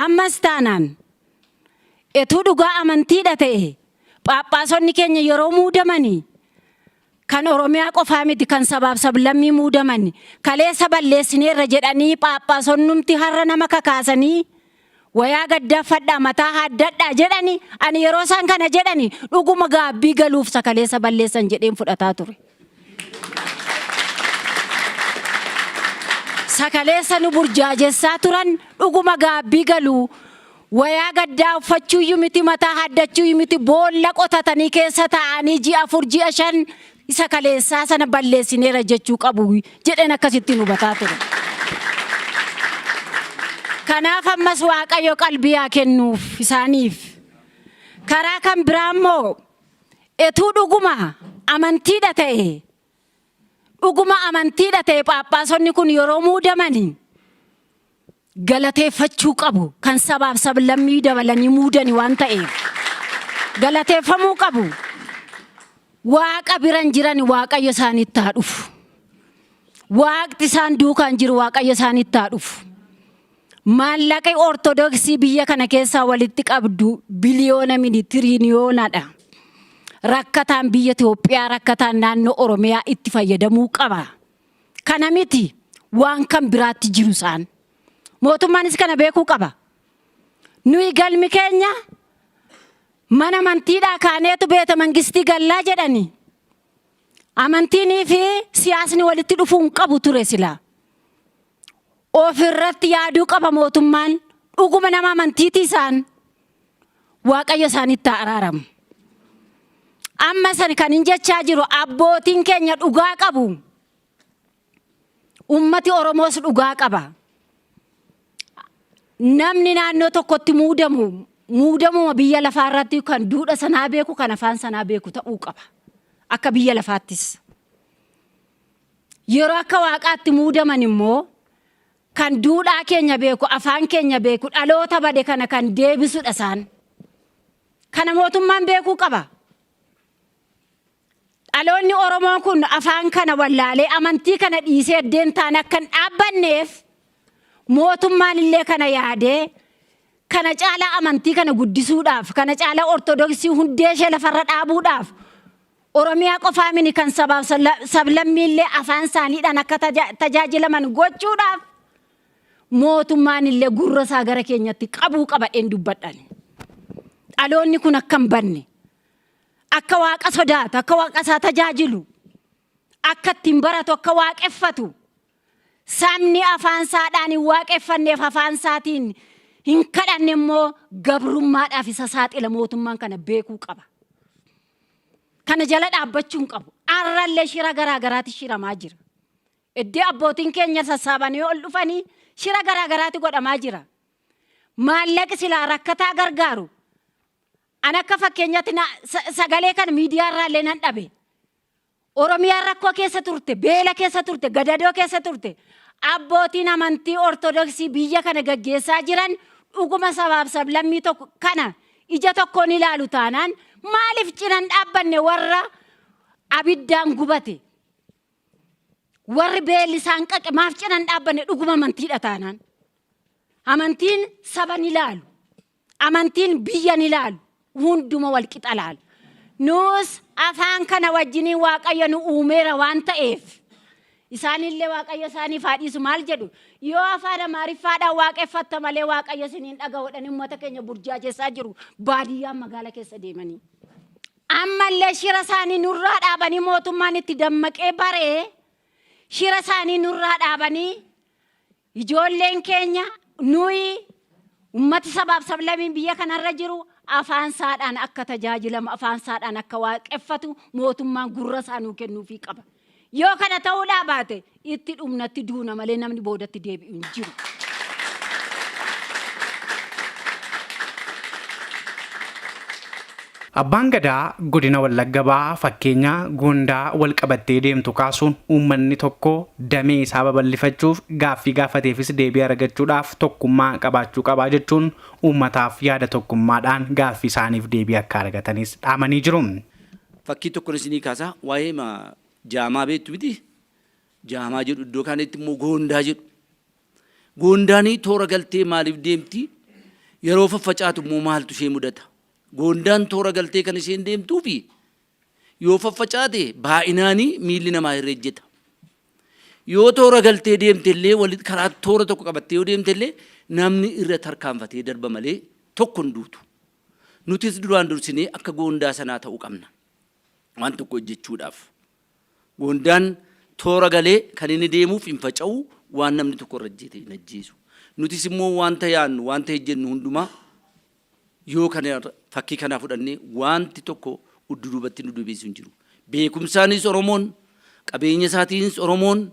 Ammas taanaan, etuu dhugaa amantiidha ta'e, phaaphaasonni keenya yeroo muudamani kan Oromiyaa qofaa miti kan sabaaf sablammii muudaman kaleessa balleessineerra jedhanii phaaphaasonnumti har'a nama kakaasanii wayaa gaddaa ffadhaa mataa haaddadhaa jedhani ani yeroo isaan kana jedhani dhuguma gaabbii galuuf isa kaleessa balleessan jedheen fudhataa ture. sa kaleessa nu burjaajessaa turan dhuguma gaabbii galu. Wayaa gaddaa uffachuuyyu miti mataa haaddachuuyyu miti boolla qotatanii keessa taa'anii ji'a afur ji'a shan isa kaleessaa sana balleessineera jechuu qabu jedheen akkasittiin hubataa ture. Kanaaf ammas Waaqayyo qalbii haa kennuuf isaaniif. Karaa kan biraa immoo Etuu dhuguma amantiidha ta'e dhuguma amantiidha ta'e phaaphaasonni kun yeroo muudamani galateeffachuu qabu kan sabaaf sablammii dabalanii muudani waan ta'eef galateeffamuu qabu waaqa biran jirani waaqayyo isaanitti haa dhufu waaqti isaan duukaan jiru waaqayyo isaanitti haa dhufu. Maallaqi Ortodoksii biyya kana keessaa walitti qabdu biliyoona miti tiriiliyoonadha. Rakkataan biyya Itoophiyaa, rakkataan naannoo Oromiyaa itti fayyadamuu qaba. Kana miti waan kan biraatti jiru isaan. Mootummaanis kana beekuu qaba. Nuyi galmi keenya mana amantiidhaa kaaneetu beeta mangistii gallaa jedhani. Amantiinii fi siyaasni walitti dhufuu hin qabu ture silaa. Of irratti yaaduu qaba mootummaan dhuguma nama amantiitii isaan waaqayyo isaanitti haa araaramu. Amma san kan hin jechaa jiru abbootiin keenya dhugaa qabu. Ummati Oromoos dhugaa qaba. Namni naannoo tokkotti muudamu muudamuma biyya lafaa irratti kan duudha sanaa beeku kan afaan sanaa beeku ta'uu qaba. Akka biyya lafaattis. Yeroo akka Waaqaatti muudaman immoo kan duudhaa keenya beeku, afaan keenya beeku, dhaloota bade kana kan deebisudha isaan. Kana mootummaan beekuu qaba. Dhaloonni Oromoo kun afaan kana wallaalee amantii kana dhiisee addeentaan akka hin dhaabbanneef mootummaan illee kana yaadee kana caalaa amantii kana guddisuudhaaf, kana caalaa ortodoksii hundee ishee lafarra dhaabuudhaaf Oromiyaa qofaa mini kan sabaaf sablammiillee afaan isaaniidhaan akka tajaajilaman gochuudhaaf mootummaan illee gurra isaa gara keenyatti qabuu qabadheen dubbadhan. Dhaloonni kun akka hin banne, akka waaqa sodaatu, akka waaqa isaa tajaajilu, akka ittiin baratu, akka waaqeffatu, sabni afaan isaadhaan hin waaqeffanneef afaan isaatiin hin kadhanne immoo gabrummaadhaaf isa saaxila mootummaan kana beekuu qaba. Kana jala dhaabbachuu hin qabu. Arrallee shira garaa garaati shiramaa jira. Iddoo abbootiin keenya sassaabanii ol dhufanii shira garaa garaati godhamaa jira. Maallaqi silaa rakkataa gargaaru an akka fakkeenyatti na- sa- sagalee kana miidiyaa irraallee nan dhabe. Oromiyaan rakkoo keessa turte, beela keessa turte, gadadoo keessa turte. Abbootiin amantii Ortodoksii biyya kana gaggeessaa jiran dhuguma sabaaf sablammii tokko kana ija tokkoon ilaalu taanaan maaliif cina hin dhaabbanne warra abiddaan gubate? Warri beelli isaan qaqe maaf cina hin dhaabbanne dhuguma amantiidha taanaan? Amantiin saba ni ilaalu. Amantiin biyya hin ilaalu, hunduma wal qixa ilaala. Nus afaan kana wajjiniin Waaqayyo nu uumeera waan ta'eef, isaanillee Waaqayyo isaaniif haa dhiisu maal jedhu? Yoo afaan Amaariffaadhaan waaqeffatta malee Waaqayyo isin hin dhaga'u jedhanii uummata keenya burjaajessaa jiru baadiyyaa magaala keessa deemanii. Ammallee shira isaanii nurraa dhaabanii mootummaan itti dammaqee baree shira isaanii nurraa dhaabanii Ijoolleen keenya nuyi ummati sabaaf sablamiin biyya kanarra jiru afaan isaadhaan akka tajaajilamu, afaan isaadhaan akka waaqeffatu mootummaan gurra isaa nuu kennuufii qaba. Yoo kana ta'uudhaa baate itti dhumna, itti duuna malee namni boodatti deebi'u hin jiru. Abbaan Gadaa Godina Wallagga Bahaa fakkeenya Goondaa walqabattee deemtu kaasuun uummanni tokko damee isaa babal'ifachuuf gaaffii gaafateefis deebii aragachuudhaaf tokkummaa qabaachuu qaba jechuun uummataaf yaada tokkummaadhaan gaaffii isaaniif deebii akka argatanis dhaamanii jiru. Fakkii tokkon isinii kaasa waa'eema jaamaa beektu miti? Jaamaa jedhu iddoo kaanitti immoo goondaa jedhu. Goondaanii toora galtee maaliif deemti? Yeroo faffacaatu immoo maaltu ishee mudata? Goondaan toora galtee kan isheen deemtuu fi yoo faffacaate baay'inaani miilli namaa irra ejjeta. Yoo toora galtee deemte illee walitti karaa toora tokko qabattee yoo deemte illee namni irra tarkaanfatee darba malee tokko hin duutu. Nutis duraan dursinee akka goondaa sanaa ta'uu qabna. Waan tokko hojjechuudhaaf. Goondaan toora galee kan inni deemuuf hin faca'u waan namni tokko irra ejjete hin ajjeesu. Nutis immoo wanta yaannu wanta hojjennu hundumaa Yoo kana irra fakkii kanaa fudhanne waanti tokko uddu duubatti nu debiisu hin jiru. Beekumsaanis Oromoon, qabeenya isaatiinis Oromoon,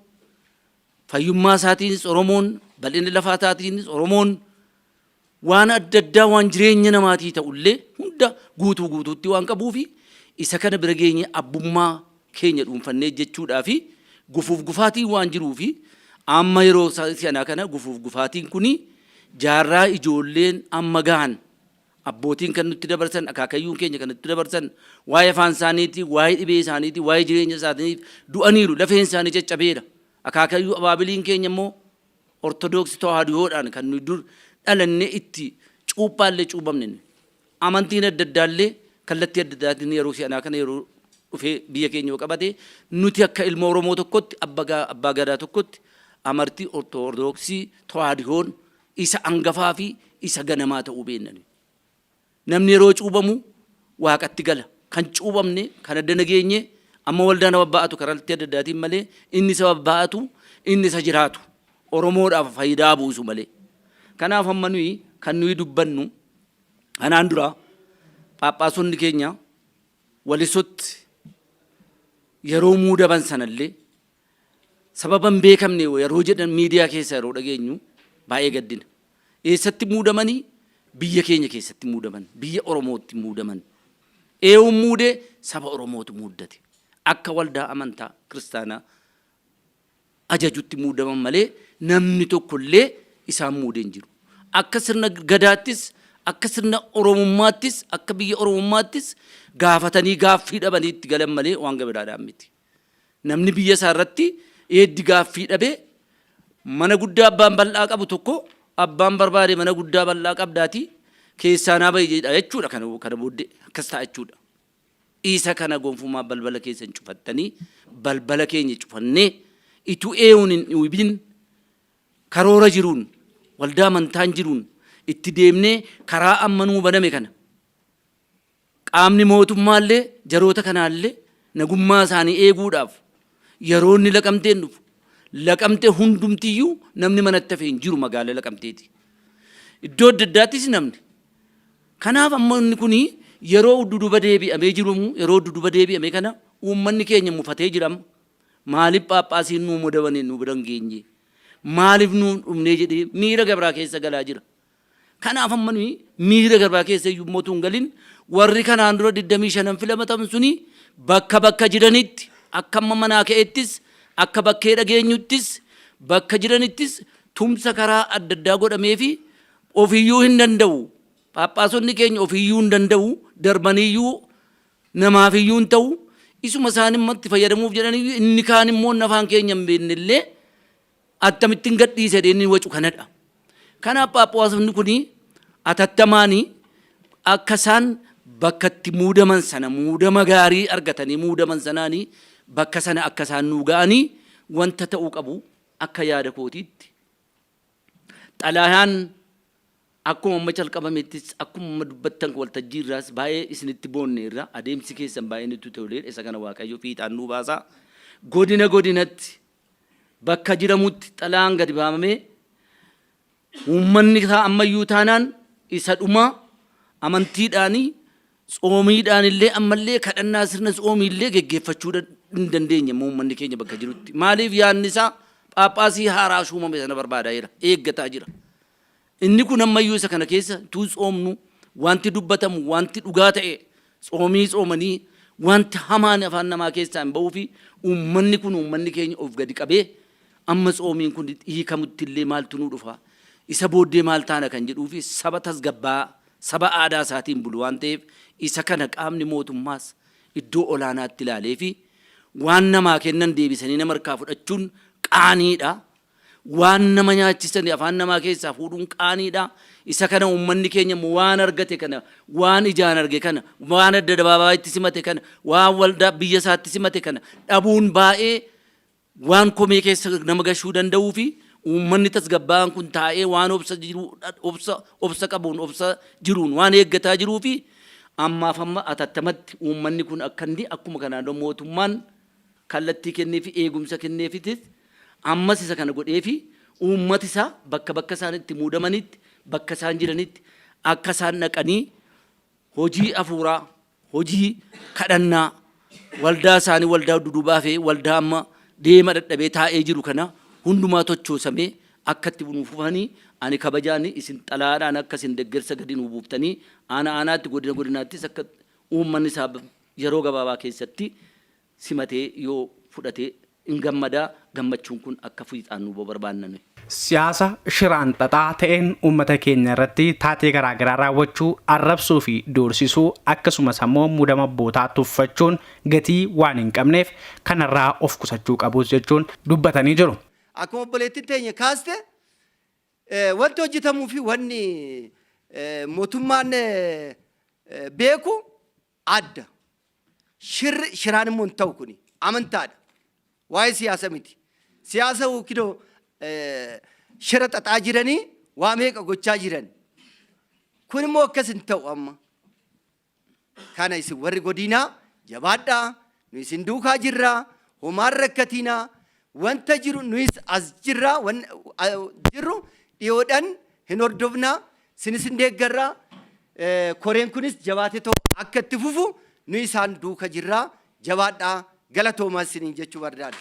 fayyummaa isaatiinis Oromoon, bal'ina lafaa isaatiinis Oromoon, waan adda addaa waan jireenya namaatii ta'ullee hunda guutuu guutuutti waan qabuufi isa kana bira geenye abbummaa keenya dhuunfannee jechuudhaa fi gufuuf gufaatiin waan jiruu fi amma yeroo si'anaa kana gufuuf gufaatiin kun jaarraa ijoolleen amma gahan abbootiin kan nutti dabarsan akaakayyuun keenya kan nutti dabarsan waa'ee afaan isaaniitii waa'ee dhibee isaaniitii waa'ee jireenya isaaniif du'aniiru lafeen isaanii caccabeera akaakayyuu abaabiliin keenya immoo ortodoksii tawaahidoodhaan kan nuyi dur dhalannee itti cuuphaallee cuubamne Amantiin adda addaa illee kallattii adda addaatiin yeroo si'anaa kana yeroo dhufee biyya keenya yoo qabate nuti akka ilma Oromoo tokkotti Abbaa Gadaa tokkotti amartii Ortodoksii Tawaahdihoon isa angafaa fi isa ganamaa ta'uu beenna nuyi. Namni yeroo cuubamu Waaqatti gala. Kan cuubamne kan adda nageenye amma waldaan ababbaa'atu karaltii adda addaatiin malee inni isa ababbaa'atu inni isa jiraatu Oromoodhaaf faayidaa buusu malee. Kanaaf amma nuyi kan nuyi dubbannu Kanaan dura phaaphaasonni keenya Walisootti yeroo muudaman sanallee sababa hin beekamne yeroo jedhan miidiyaa keessa yeroo dhageenyu baay'ee gaddina. Eessatti muudamanii? Biyya keenya keessatti muudaman, biyya Oromootti muudaman. Eewuun muudee saba Oromootu muuddate. Akka waldaa amantaa kiristaanaa ajajutti muudaman malee namni tokko illee isaan muude hin jiru. Akka sirna Gadaattis, akka sirna Oromummaattis, akka biyya Oromummaattis gaafatanii gaaffii dhabanii itti galan malee waan gamadaadhaan miti. Namni biyya isaa irratti eeddi gaaffii dhabee mana guddaa abbaan bal'aa qabu tokko abbaan barbaade mana guddaa bal'aa qabdaatii keessaa naa bahi jedha jechuudha kana kana booddee akkas ta'a jechuudha. Isa kana gonfumaa balbala keessan cufattanii balbala keenya cufannee ituu eeun hin dhiwibin karoora jiruun waldaa amantaan jiruun itti deemnee karaa amma nuu baname kana qaamni mootummaa illee jaroota kanaa illee nagummaa isaanii eeguudhaaf yeroo inni laqamteen dhufu laqamte hundumtiyyuu namni manatti hafe hin jiru magaala laqamteeti. Iddoo adda addaattis namni Kanaaf amma inni kuni yeroo udduduba deebi'amee jiru yeroo udduduba deebi'ame kana uummanni keenya mufatee jira amma. Maalif phaaphaasiin nuu modamane nu bira hin geenye? Maalif nu hin dhumnee jedhee miira gabraa keessa galaa jira. Kanaaf amma nuyi miira gabraa keessa iyyuu immoo utuu hin galin warri kanaan dura 25n filamataman suni bakka bakka jiranitti akka amma manaa ka'ettis akka bakkee dhageenyuttis bakka jiranittis tumsa karaa adda addaa godhameefi Ofiyyuu hin danda'u. Phaaphaasonni keenya ofiyyuu hin danda'u. Darbaniyyuu namaafiyyuu hin ta'u. Isuma isaanimmatti fayyadamuuf jedhaniyyuu inni kaan immoo inni afaan keenya hin beekne illee attamittin gadhiisa jedhee inni wacu kanadha. Kanaaf phaaphaasonni kun atattamaan akka isaan bakka itti muudaman sana muudama gaarii argatanii muudaman sanaan bakka sana akka isaan nuu ga'anii wanta ta'uu qabu akka yaada kootiitti Xalayaan akkuma amma calqabamettis akkuma amma dubbattan waltajjii irraas baay'ee isinitti boonneerra. Adeemsi keessan baay'ee nutti toleera. Isa kana Waaqayyo fiixaan nuu baasa. Godina godinatti bakka jiramutti xalayaan gadi baafamee uummanni isaa ammayyuu taanaan isa dhumaa amantiidhaanii Tsoomiidhaanillee ammallee kadhannaa sirna tsoomiillee geggeeffachuu hin dandeenye immoo uummanni keenya bakka jirutti. Maaliif yaadni isaa phaaphaasii haaraa shuumame sana barbaadaa jira, eeggataa jira. Inni kun ammayyuu isa kana keessa utuu tsoomnu wanti dubbatamu wanti dhugaa ta'e tsoomii tsoomanii wanti hamaan afaan namaa keessaa hin ba'uu fi uummanni kun uummanni keenya of gadi qabee amma tsoomiin kun hiikamuttillee maaltu nuu dhufa isa booddee maal taana kan jedhuu fi saba tasgabbaa'aa saba aadaa isaatiin bulu waan ta'eef isa kana qaamni mootummaas iddoo olaanaatti ilaaleefi waan namaa kennan deebisanii nama harkaa fudhachuun qaaniidha. Waan nama nyaachisani afaan namaa keessaa fuudhuun qaaniidha. Isa kana uummanni keenya immoo waan argate kana, waan ijaan arge kana, waan adda dabaabaayitti simate kana, waan waldaa biyya isaatti simate kana dhabuun baay'ee Waan komee keessa nama gashuu danda'uu fi uummanni tasgabbaa'aan kun taa'ee waan obsa jiruu obsa obsa qabuun obsa jiruun waan eeggataa jiruu fi ammaaf amma atattamatti uummanni kun akka inni akkuma kanaan dura mootummaan kallattii kennee fi eegumsa kenneefitis ammas isa kana godhee fi uummati isaa bakka bakka isaan itti muudamanitti bakka isaan jiranitti akka isaan dhaqanii hojii afuuraa hojii kadhannaa waldaa isaanii waldaa duduubaa fi waldaa amma deema dadhabee taa'ee jiru kana hundumaa tochoosamee akka itti nuu fufanii ani kabajaan isin xalaadhaan akka isin deggersa gadi nuu buuftanii aana aanaatti godina godinaattis akka uummanni isaa yeroo gabaabaa keessatti simatee yoo fudhate in gammadaa gammachuun kun akka fiixaannu barbaanna nuyi. Siyaasa shiraan xaxaa ta'een uummata keenya irratti taatee garaagaraa raawwachuu, arrabsuu fi doorsisuu akkasumas ammoo muudama abbootaa tuffachuun gatii waan hin qabneef kanarraa of qusachuu qabus jechuun dubbatanii jiru. Akkuma obboleettiin teenya kaaste wanti hojjetamuu fi wanni mootummaan beeku Adda. Shirri shiraan immoo hin ta'u kuni. Amantaadha. Waa'ee siyaasa miti. Siyaasa yookiin shira xaxaa jiranii waa meeqa gochaa jiran. Kun immoo akkas hin ta'u amma. Kana isin warri godiinaa jabaadhaa Nu isin duukaa jirra, homaa hin rakkatiinaa, wanta jiru nuyis as jirra, wan- a- jirru dhiyoodhan hin hordofna, sinis hin deeggarra, Eh, koreen kunis jabaatee too akka itti fufu nu isaan duuka jirra, jabaadhaa galatoomaa isiniin jechuu barbaada.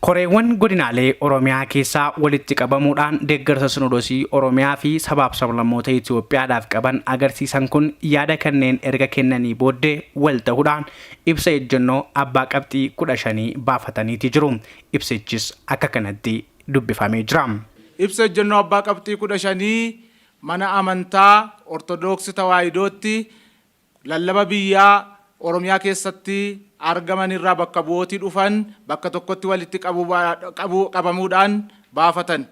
Koreewwan godinaalee Oromiyaa keessaa walitti qabamuudhaan deeggarsa Sinodosii Oromiyaa fi sabaaf sablammoota Itoophiyaadhaaf qaban agarsiisan kun yaada kanneen erga kennanii booddee wal tahuudhaan ibsa ejjennoo abbaa qabxii 15 baafataniiti jiru. Ibsichis akka kanatti dubbifamee jira. Ibsa ejjennoo abbaa qabxii 15 Mana Amantaa Ortodooksi Tawaahidootti Lallaba biyyaa Oromiyaa keessatti argaman irraa bakka bu'ooti dhufan bakka tokkotti walitti qabamuudhaan baafatan.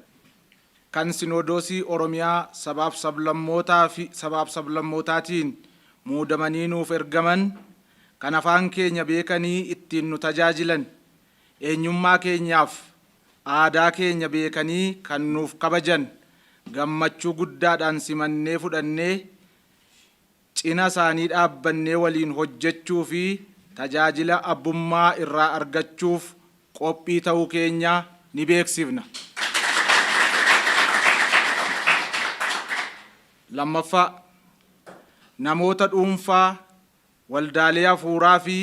Kan Sinoodoosii Oromiyaa Sabaaf Sablammootaa fi Sabaaf Sablammootaatiin muudamanii nuuf ergaman, kan afaan keenya beekanii ittiin nu tajaajilan, eenyummaa keenyaaf aadaa keenya beekanii kan nuuf kabajan gammachuu guddaadhaan simannee fudhannee Cina isaanii dhaabbannee waliin hojjechuu fi tajaajila abbummaa irraa argachuuf qophii ta'uu keenya ni beeksifna. Lammaffaa, namoota dhuunfaa, waldaalee hafuuraa fi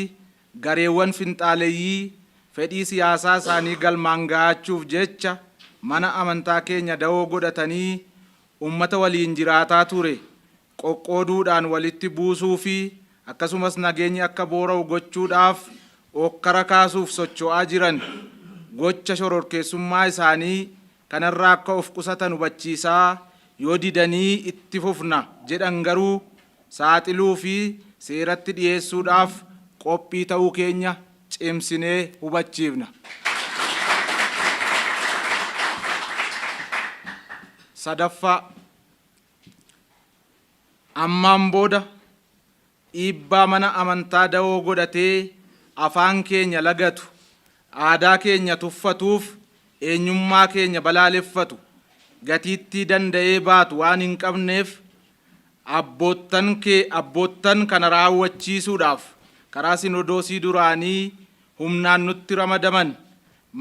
gareewwan finxaaleyyii fedhii siyaasaa isaanii galmaan ga'aachuuf jecha mana amantaa keenya dawoo godhatanii uummata waliin jiraataa ture qoqqooduudhaan walitti buusuu fi akkasumas nageenyi akka boora'u gochuudhaaf ookkara kaasuuf socho'aa jiran gocha shororkeessummaa isaanii kanarraa akka of qusatan hubachiisaa yoo didanii itti fufna jedhan garuu saaxiluu fi seeratti dhiyeessuudhaaf qophii ta'uu keenya cimsinee hubachiifna. sadaffaa. Ammaan booda dhiibbaa mana amantaa dawoo godhatee afaan keenya lagatu, aadaa keenya tuffatuuf eenyummaa keenya balaaleffatu gatiittii danda'ee baatu waan hin qabneef abboottan kana raawwachiisuudhaaf karaa Sinodoosii duraanii humnaan nutti ramadaman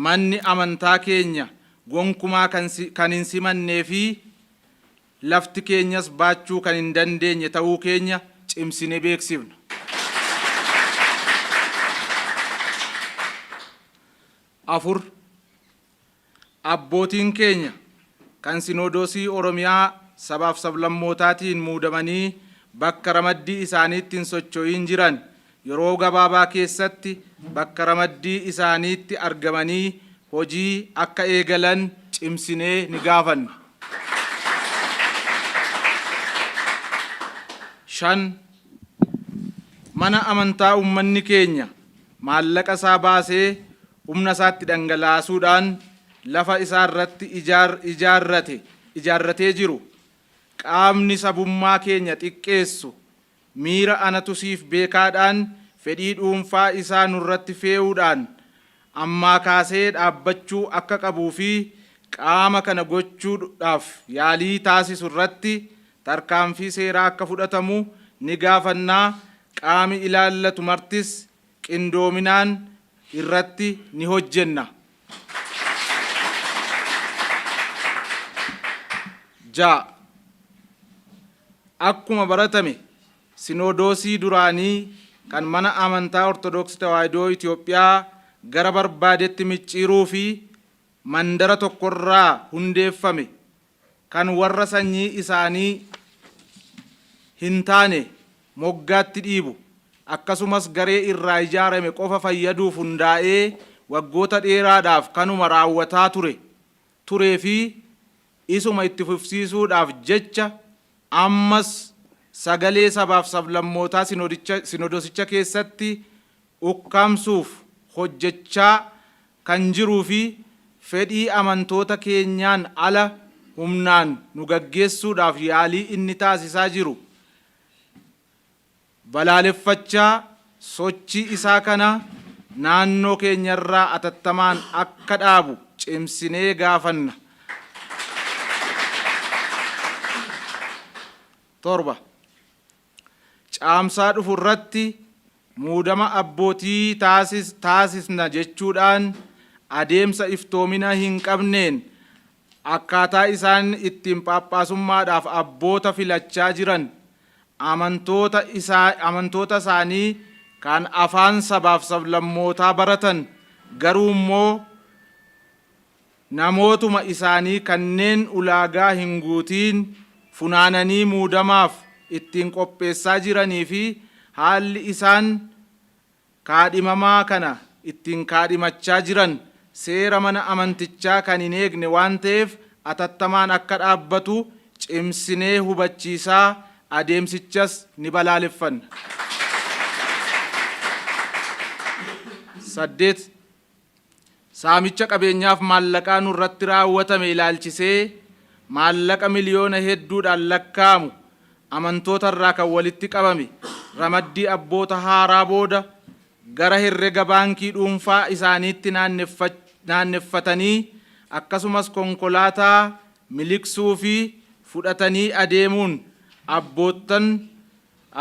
manni amantaa keenya gonkumaa kan hin simannee fi lafti keenyas baachuu kan hin dandeenye ta'uu keenya cimsine beeksifna. afur, Abbootiin keenya kan Sinoodoosii Oromiyaa sabaaf sablammootaatiin muudamanii bakka ramaddii isaaniitti hin socho'iin jiran yeroo gabaabaa keessatti bakka ramaddii isaaniitti argamanii hojii akka eegalan cimsinee ni gaafanna. 5, Mana amantaa uummanni keenya maallaqa isaa baasee humna isaatti dhangalaasuudhaan lafa isaa irratti ijaar ijaarrate ijaarratee jiru qaamni sabummaa keenya xiqqeessu miira anatu siif beekaadhaan fedhii dhuunfaa isaa nurratti feeuudhaan ammaa kaasee dhaabbachuu akka qabuu fi qaama kana gochuu dhaaf yaalii taasisu irratti tarkaanfii seeraa akka fudhatamu ni gaafannaa qaami ilaallatu martis qindoominaan irratti ni hojjenna. 6, Akkuma baratame Sinoodoosii duraanii kan Mana Amantaa Ortodoksii Tawaahidoo Itoophiyaa gara barbaadetti micciiruu fi mandara tokko irraa hundeeffame kan warra sanyii isaanii hin taane moggaatti dhiibu, akkasumas garee irraa ijaarame qofa fayyaduuf hundaa'ee waggoota dheeraadhaaf kanuma raawwataa ture, turee fi isuma itti fufsiisuudhaaf jecha ammas sagalee sabaaf sablammootaa sinodosicha keessatti ukkaamsuuf hojjechaa kan jiruu fi fedhii amantoota keenyaan ala humnaan nu gaggeessuudhaaf yaalii inni taasisaa jiru balaaleffachaa sochii isaa kana naannoo keenyarraa atattamaan akka dhaabu cimsinee gaafanna. 7. Caamsaa dhufu irratti muudama abbootii taasisna jechuudhaan adeemsa iftoomina hin qabneen akkaataa isaan ittiin phaaphaasummaadhaaf abboota filachaa jiran amantoota isaanii kan afaan sabaaf sablammootaa baratan garuu immoo namootuma isaanii kanneen ulaagaa hin guutiin funaananii muudamaaf ittiin qopheessaa jiranii fi haalli isaan kaadhimamaa kana ittiin kaadhimachaa jiran seera mana amantichaa kan hin eegne waan ta'eef atattamaan akka dhaabbatu cimsinee hubachiisaa adeemsichas ni balaaleffanna. 8. Saamicha qabeenyaaf maallaqaa nurratti raawwatame ilaalchisee maallaqa miliyoona hedduudhaan lakkaa'amu amantoota irraa kan walitti qabame ramaddii abboota haaraa booda gara herrega baankii dhuunfaa isaaniitti naanneffatanii akkasumas konkolaataa miliqsuu fi fudhatanii adeemuun abboottan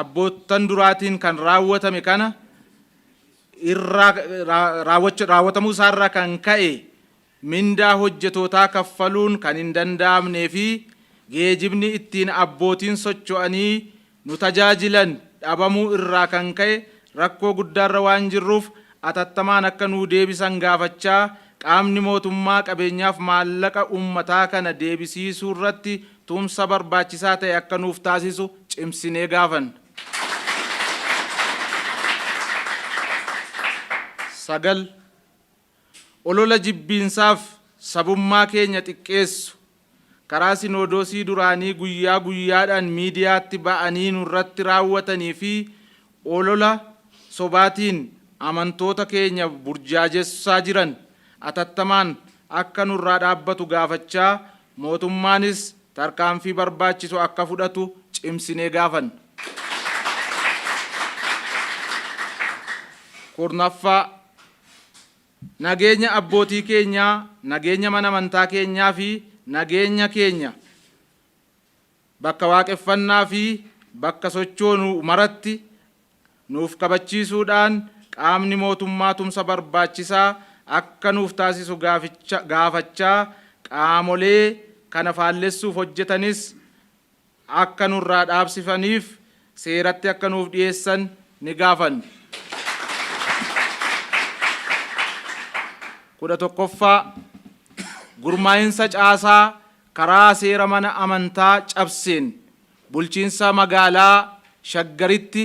abboottan duraatiin kan raawwatame kana irraa raawwatamuu isaa irraa kan ka'e mindaa hojjetootaa kaffaluun kan hin danda'amnee fi geejibni ittiin abbootiin socho'anii nu tajaajilan dhabamuu irraa kan ka'e rakkoo guddaa irra waan jirruuf atattamaan akka nuu deebisan gaafachaa qaamni mootummaa qabeenyaaf maallaqa uummataa kana deebisiisuu irratti tumsa barbaachisaa ta'e akka nuuf taasisu cimsinee gaafanna. 9, Olola jibbiinsaaf sabummaa keenya xiqqeessu karaa Sinoodoosii duraanii guyyaa guyyaadhaan miidiyaatti ba'anii nurratti raawwatanii fi olola sobaatiin amantoota keenya burjaajessaa jiran atattamaan akka nurraa dhaabbatu gaafachaa mootummaanis tarkaanfii barbaachisu akka fudhatu cimsinee gaafanna. 10ffaa. Nageenya abbootii keenyaa, nageenya mana amantaa keenyaa fi nageenya keenya, Bakka waaqeffannaa fi bakka sochoonu maratti nuuf kabachiisuudhaan qaamni mootummaa tumsa barbaachisaa akka nuuf taasisu gaaficha gaafachaa qaamolee kana faallessuuf hojjetanis akka nurraa dhaabsifaniif seeratti akka nuuf dhiyeessan ni gaafanna. 11ffaa Gurmaa'insa caasaa karaa seera mana amantaa cabseen bulchiinsa magaalaa Shaggaritti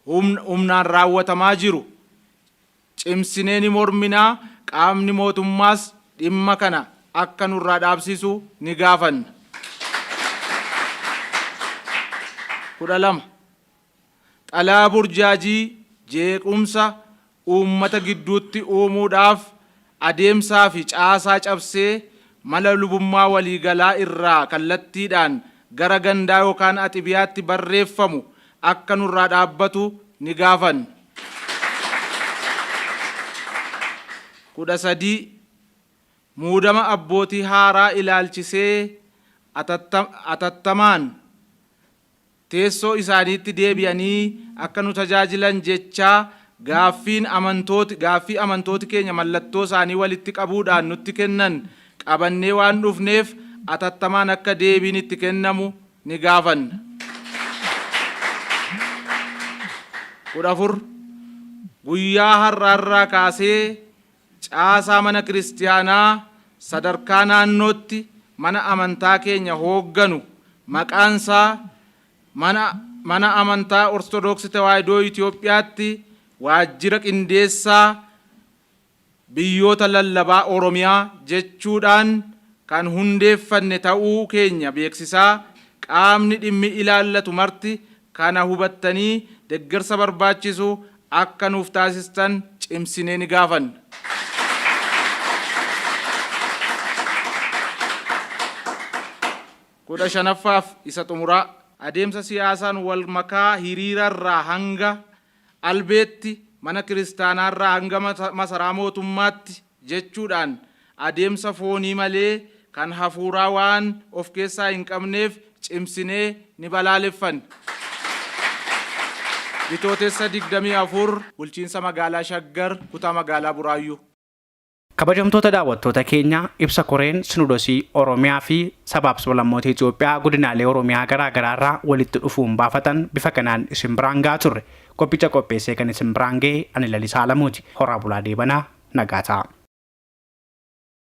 humnaan raawwatamaa jiru cimsinee ni mormina, qaamni mootummaas dhimma kana akka nurraa dhaabsisu ni gaafanna. 12. Xalayaa burjaajii jeequmsa uummata gidduutti uumuudhaaf adeemsaa fi caasaa cabsee mala lubummaa walii galaa irraa kallattiidhaan gara gandaa yookaan axibiyaatti barreeffamu akka nurraa dhaabbatu ni gaafanna. 13, Muudama abbootii haaraa ilaalchisee atattamaan, teessoo isaaniitti deebi'anii akka nu tajaajilan jechaa gaaffiin amantooti gaaffii amantooti keenya mallattoo isaanii walitti qabuudhaan nutti kennan qabannee waan dhufneef atattamaan akka deebiin itti kennamu ni gaafanna. 14, Guyyaa har'aa irraa kaasee Caasaa Mana Kiristiyaanaa sadarkaa naannootti mana amantaa keenya hoogganu maqaan isaa Mana Mana Amantaa Ortodooksi Tewaahidoo Itoophiyaatti Waajjira Qindeessaa Biyyoota Lallabaa Oromiyaa jechuudhaan kan hundeeffanne ta'uu keenya beeksisaa qaamni dhimmi ilaallatu marti Kana hubattanii deggersa barbaachisu akka nuuf taasistan cimsinee ni gaafanna. kudha shanaffaa fi isa xumuraa. Adeemsa siyaasaan wal makaa hiriira irraa hanga Albeetti, mana kiristaanaarraa hanga masaraa mootummaatti jechuudhaan adeemsa foonii malee kan hafuuraa waan of keessaa hin qabneef cimsinee ni balaaleffanna. Bitootessa 24, Bulchiinsa Magaalaa Shaggar, Kutaa Magaalaa Buraayyuu. Kabajamtoota daawwattoota keenya, ibsa Koreen Sinodosii Oromiyaa fi Sabaaf Sablammoota Itoophiyaa Godinaalee Oromiyaa garaa garaa irraa walitti dhufuun baafatan bifa kanaan isin biraan gahaa turre. Qophicha qopheessee kan isin biraan gahe ani Lalisaa Alamuuti. Horaa bulaa deebanaa nagaa ta'aa.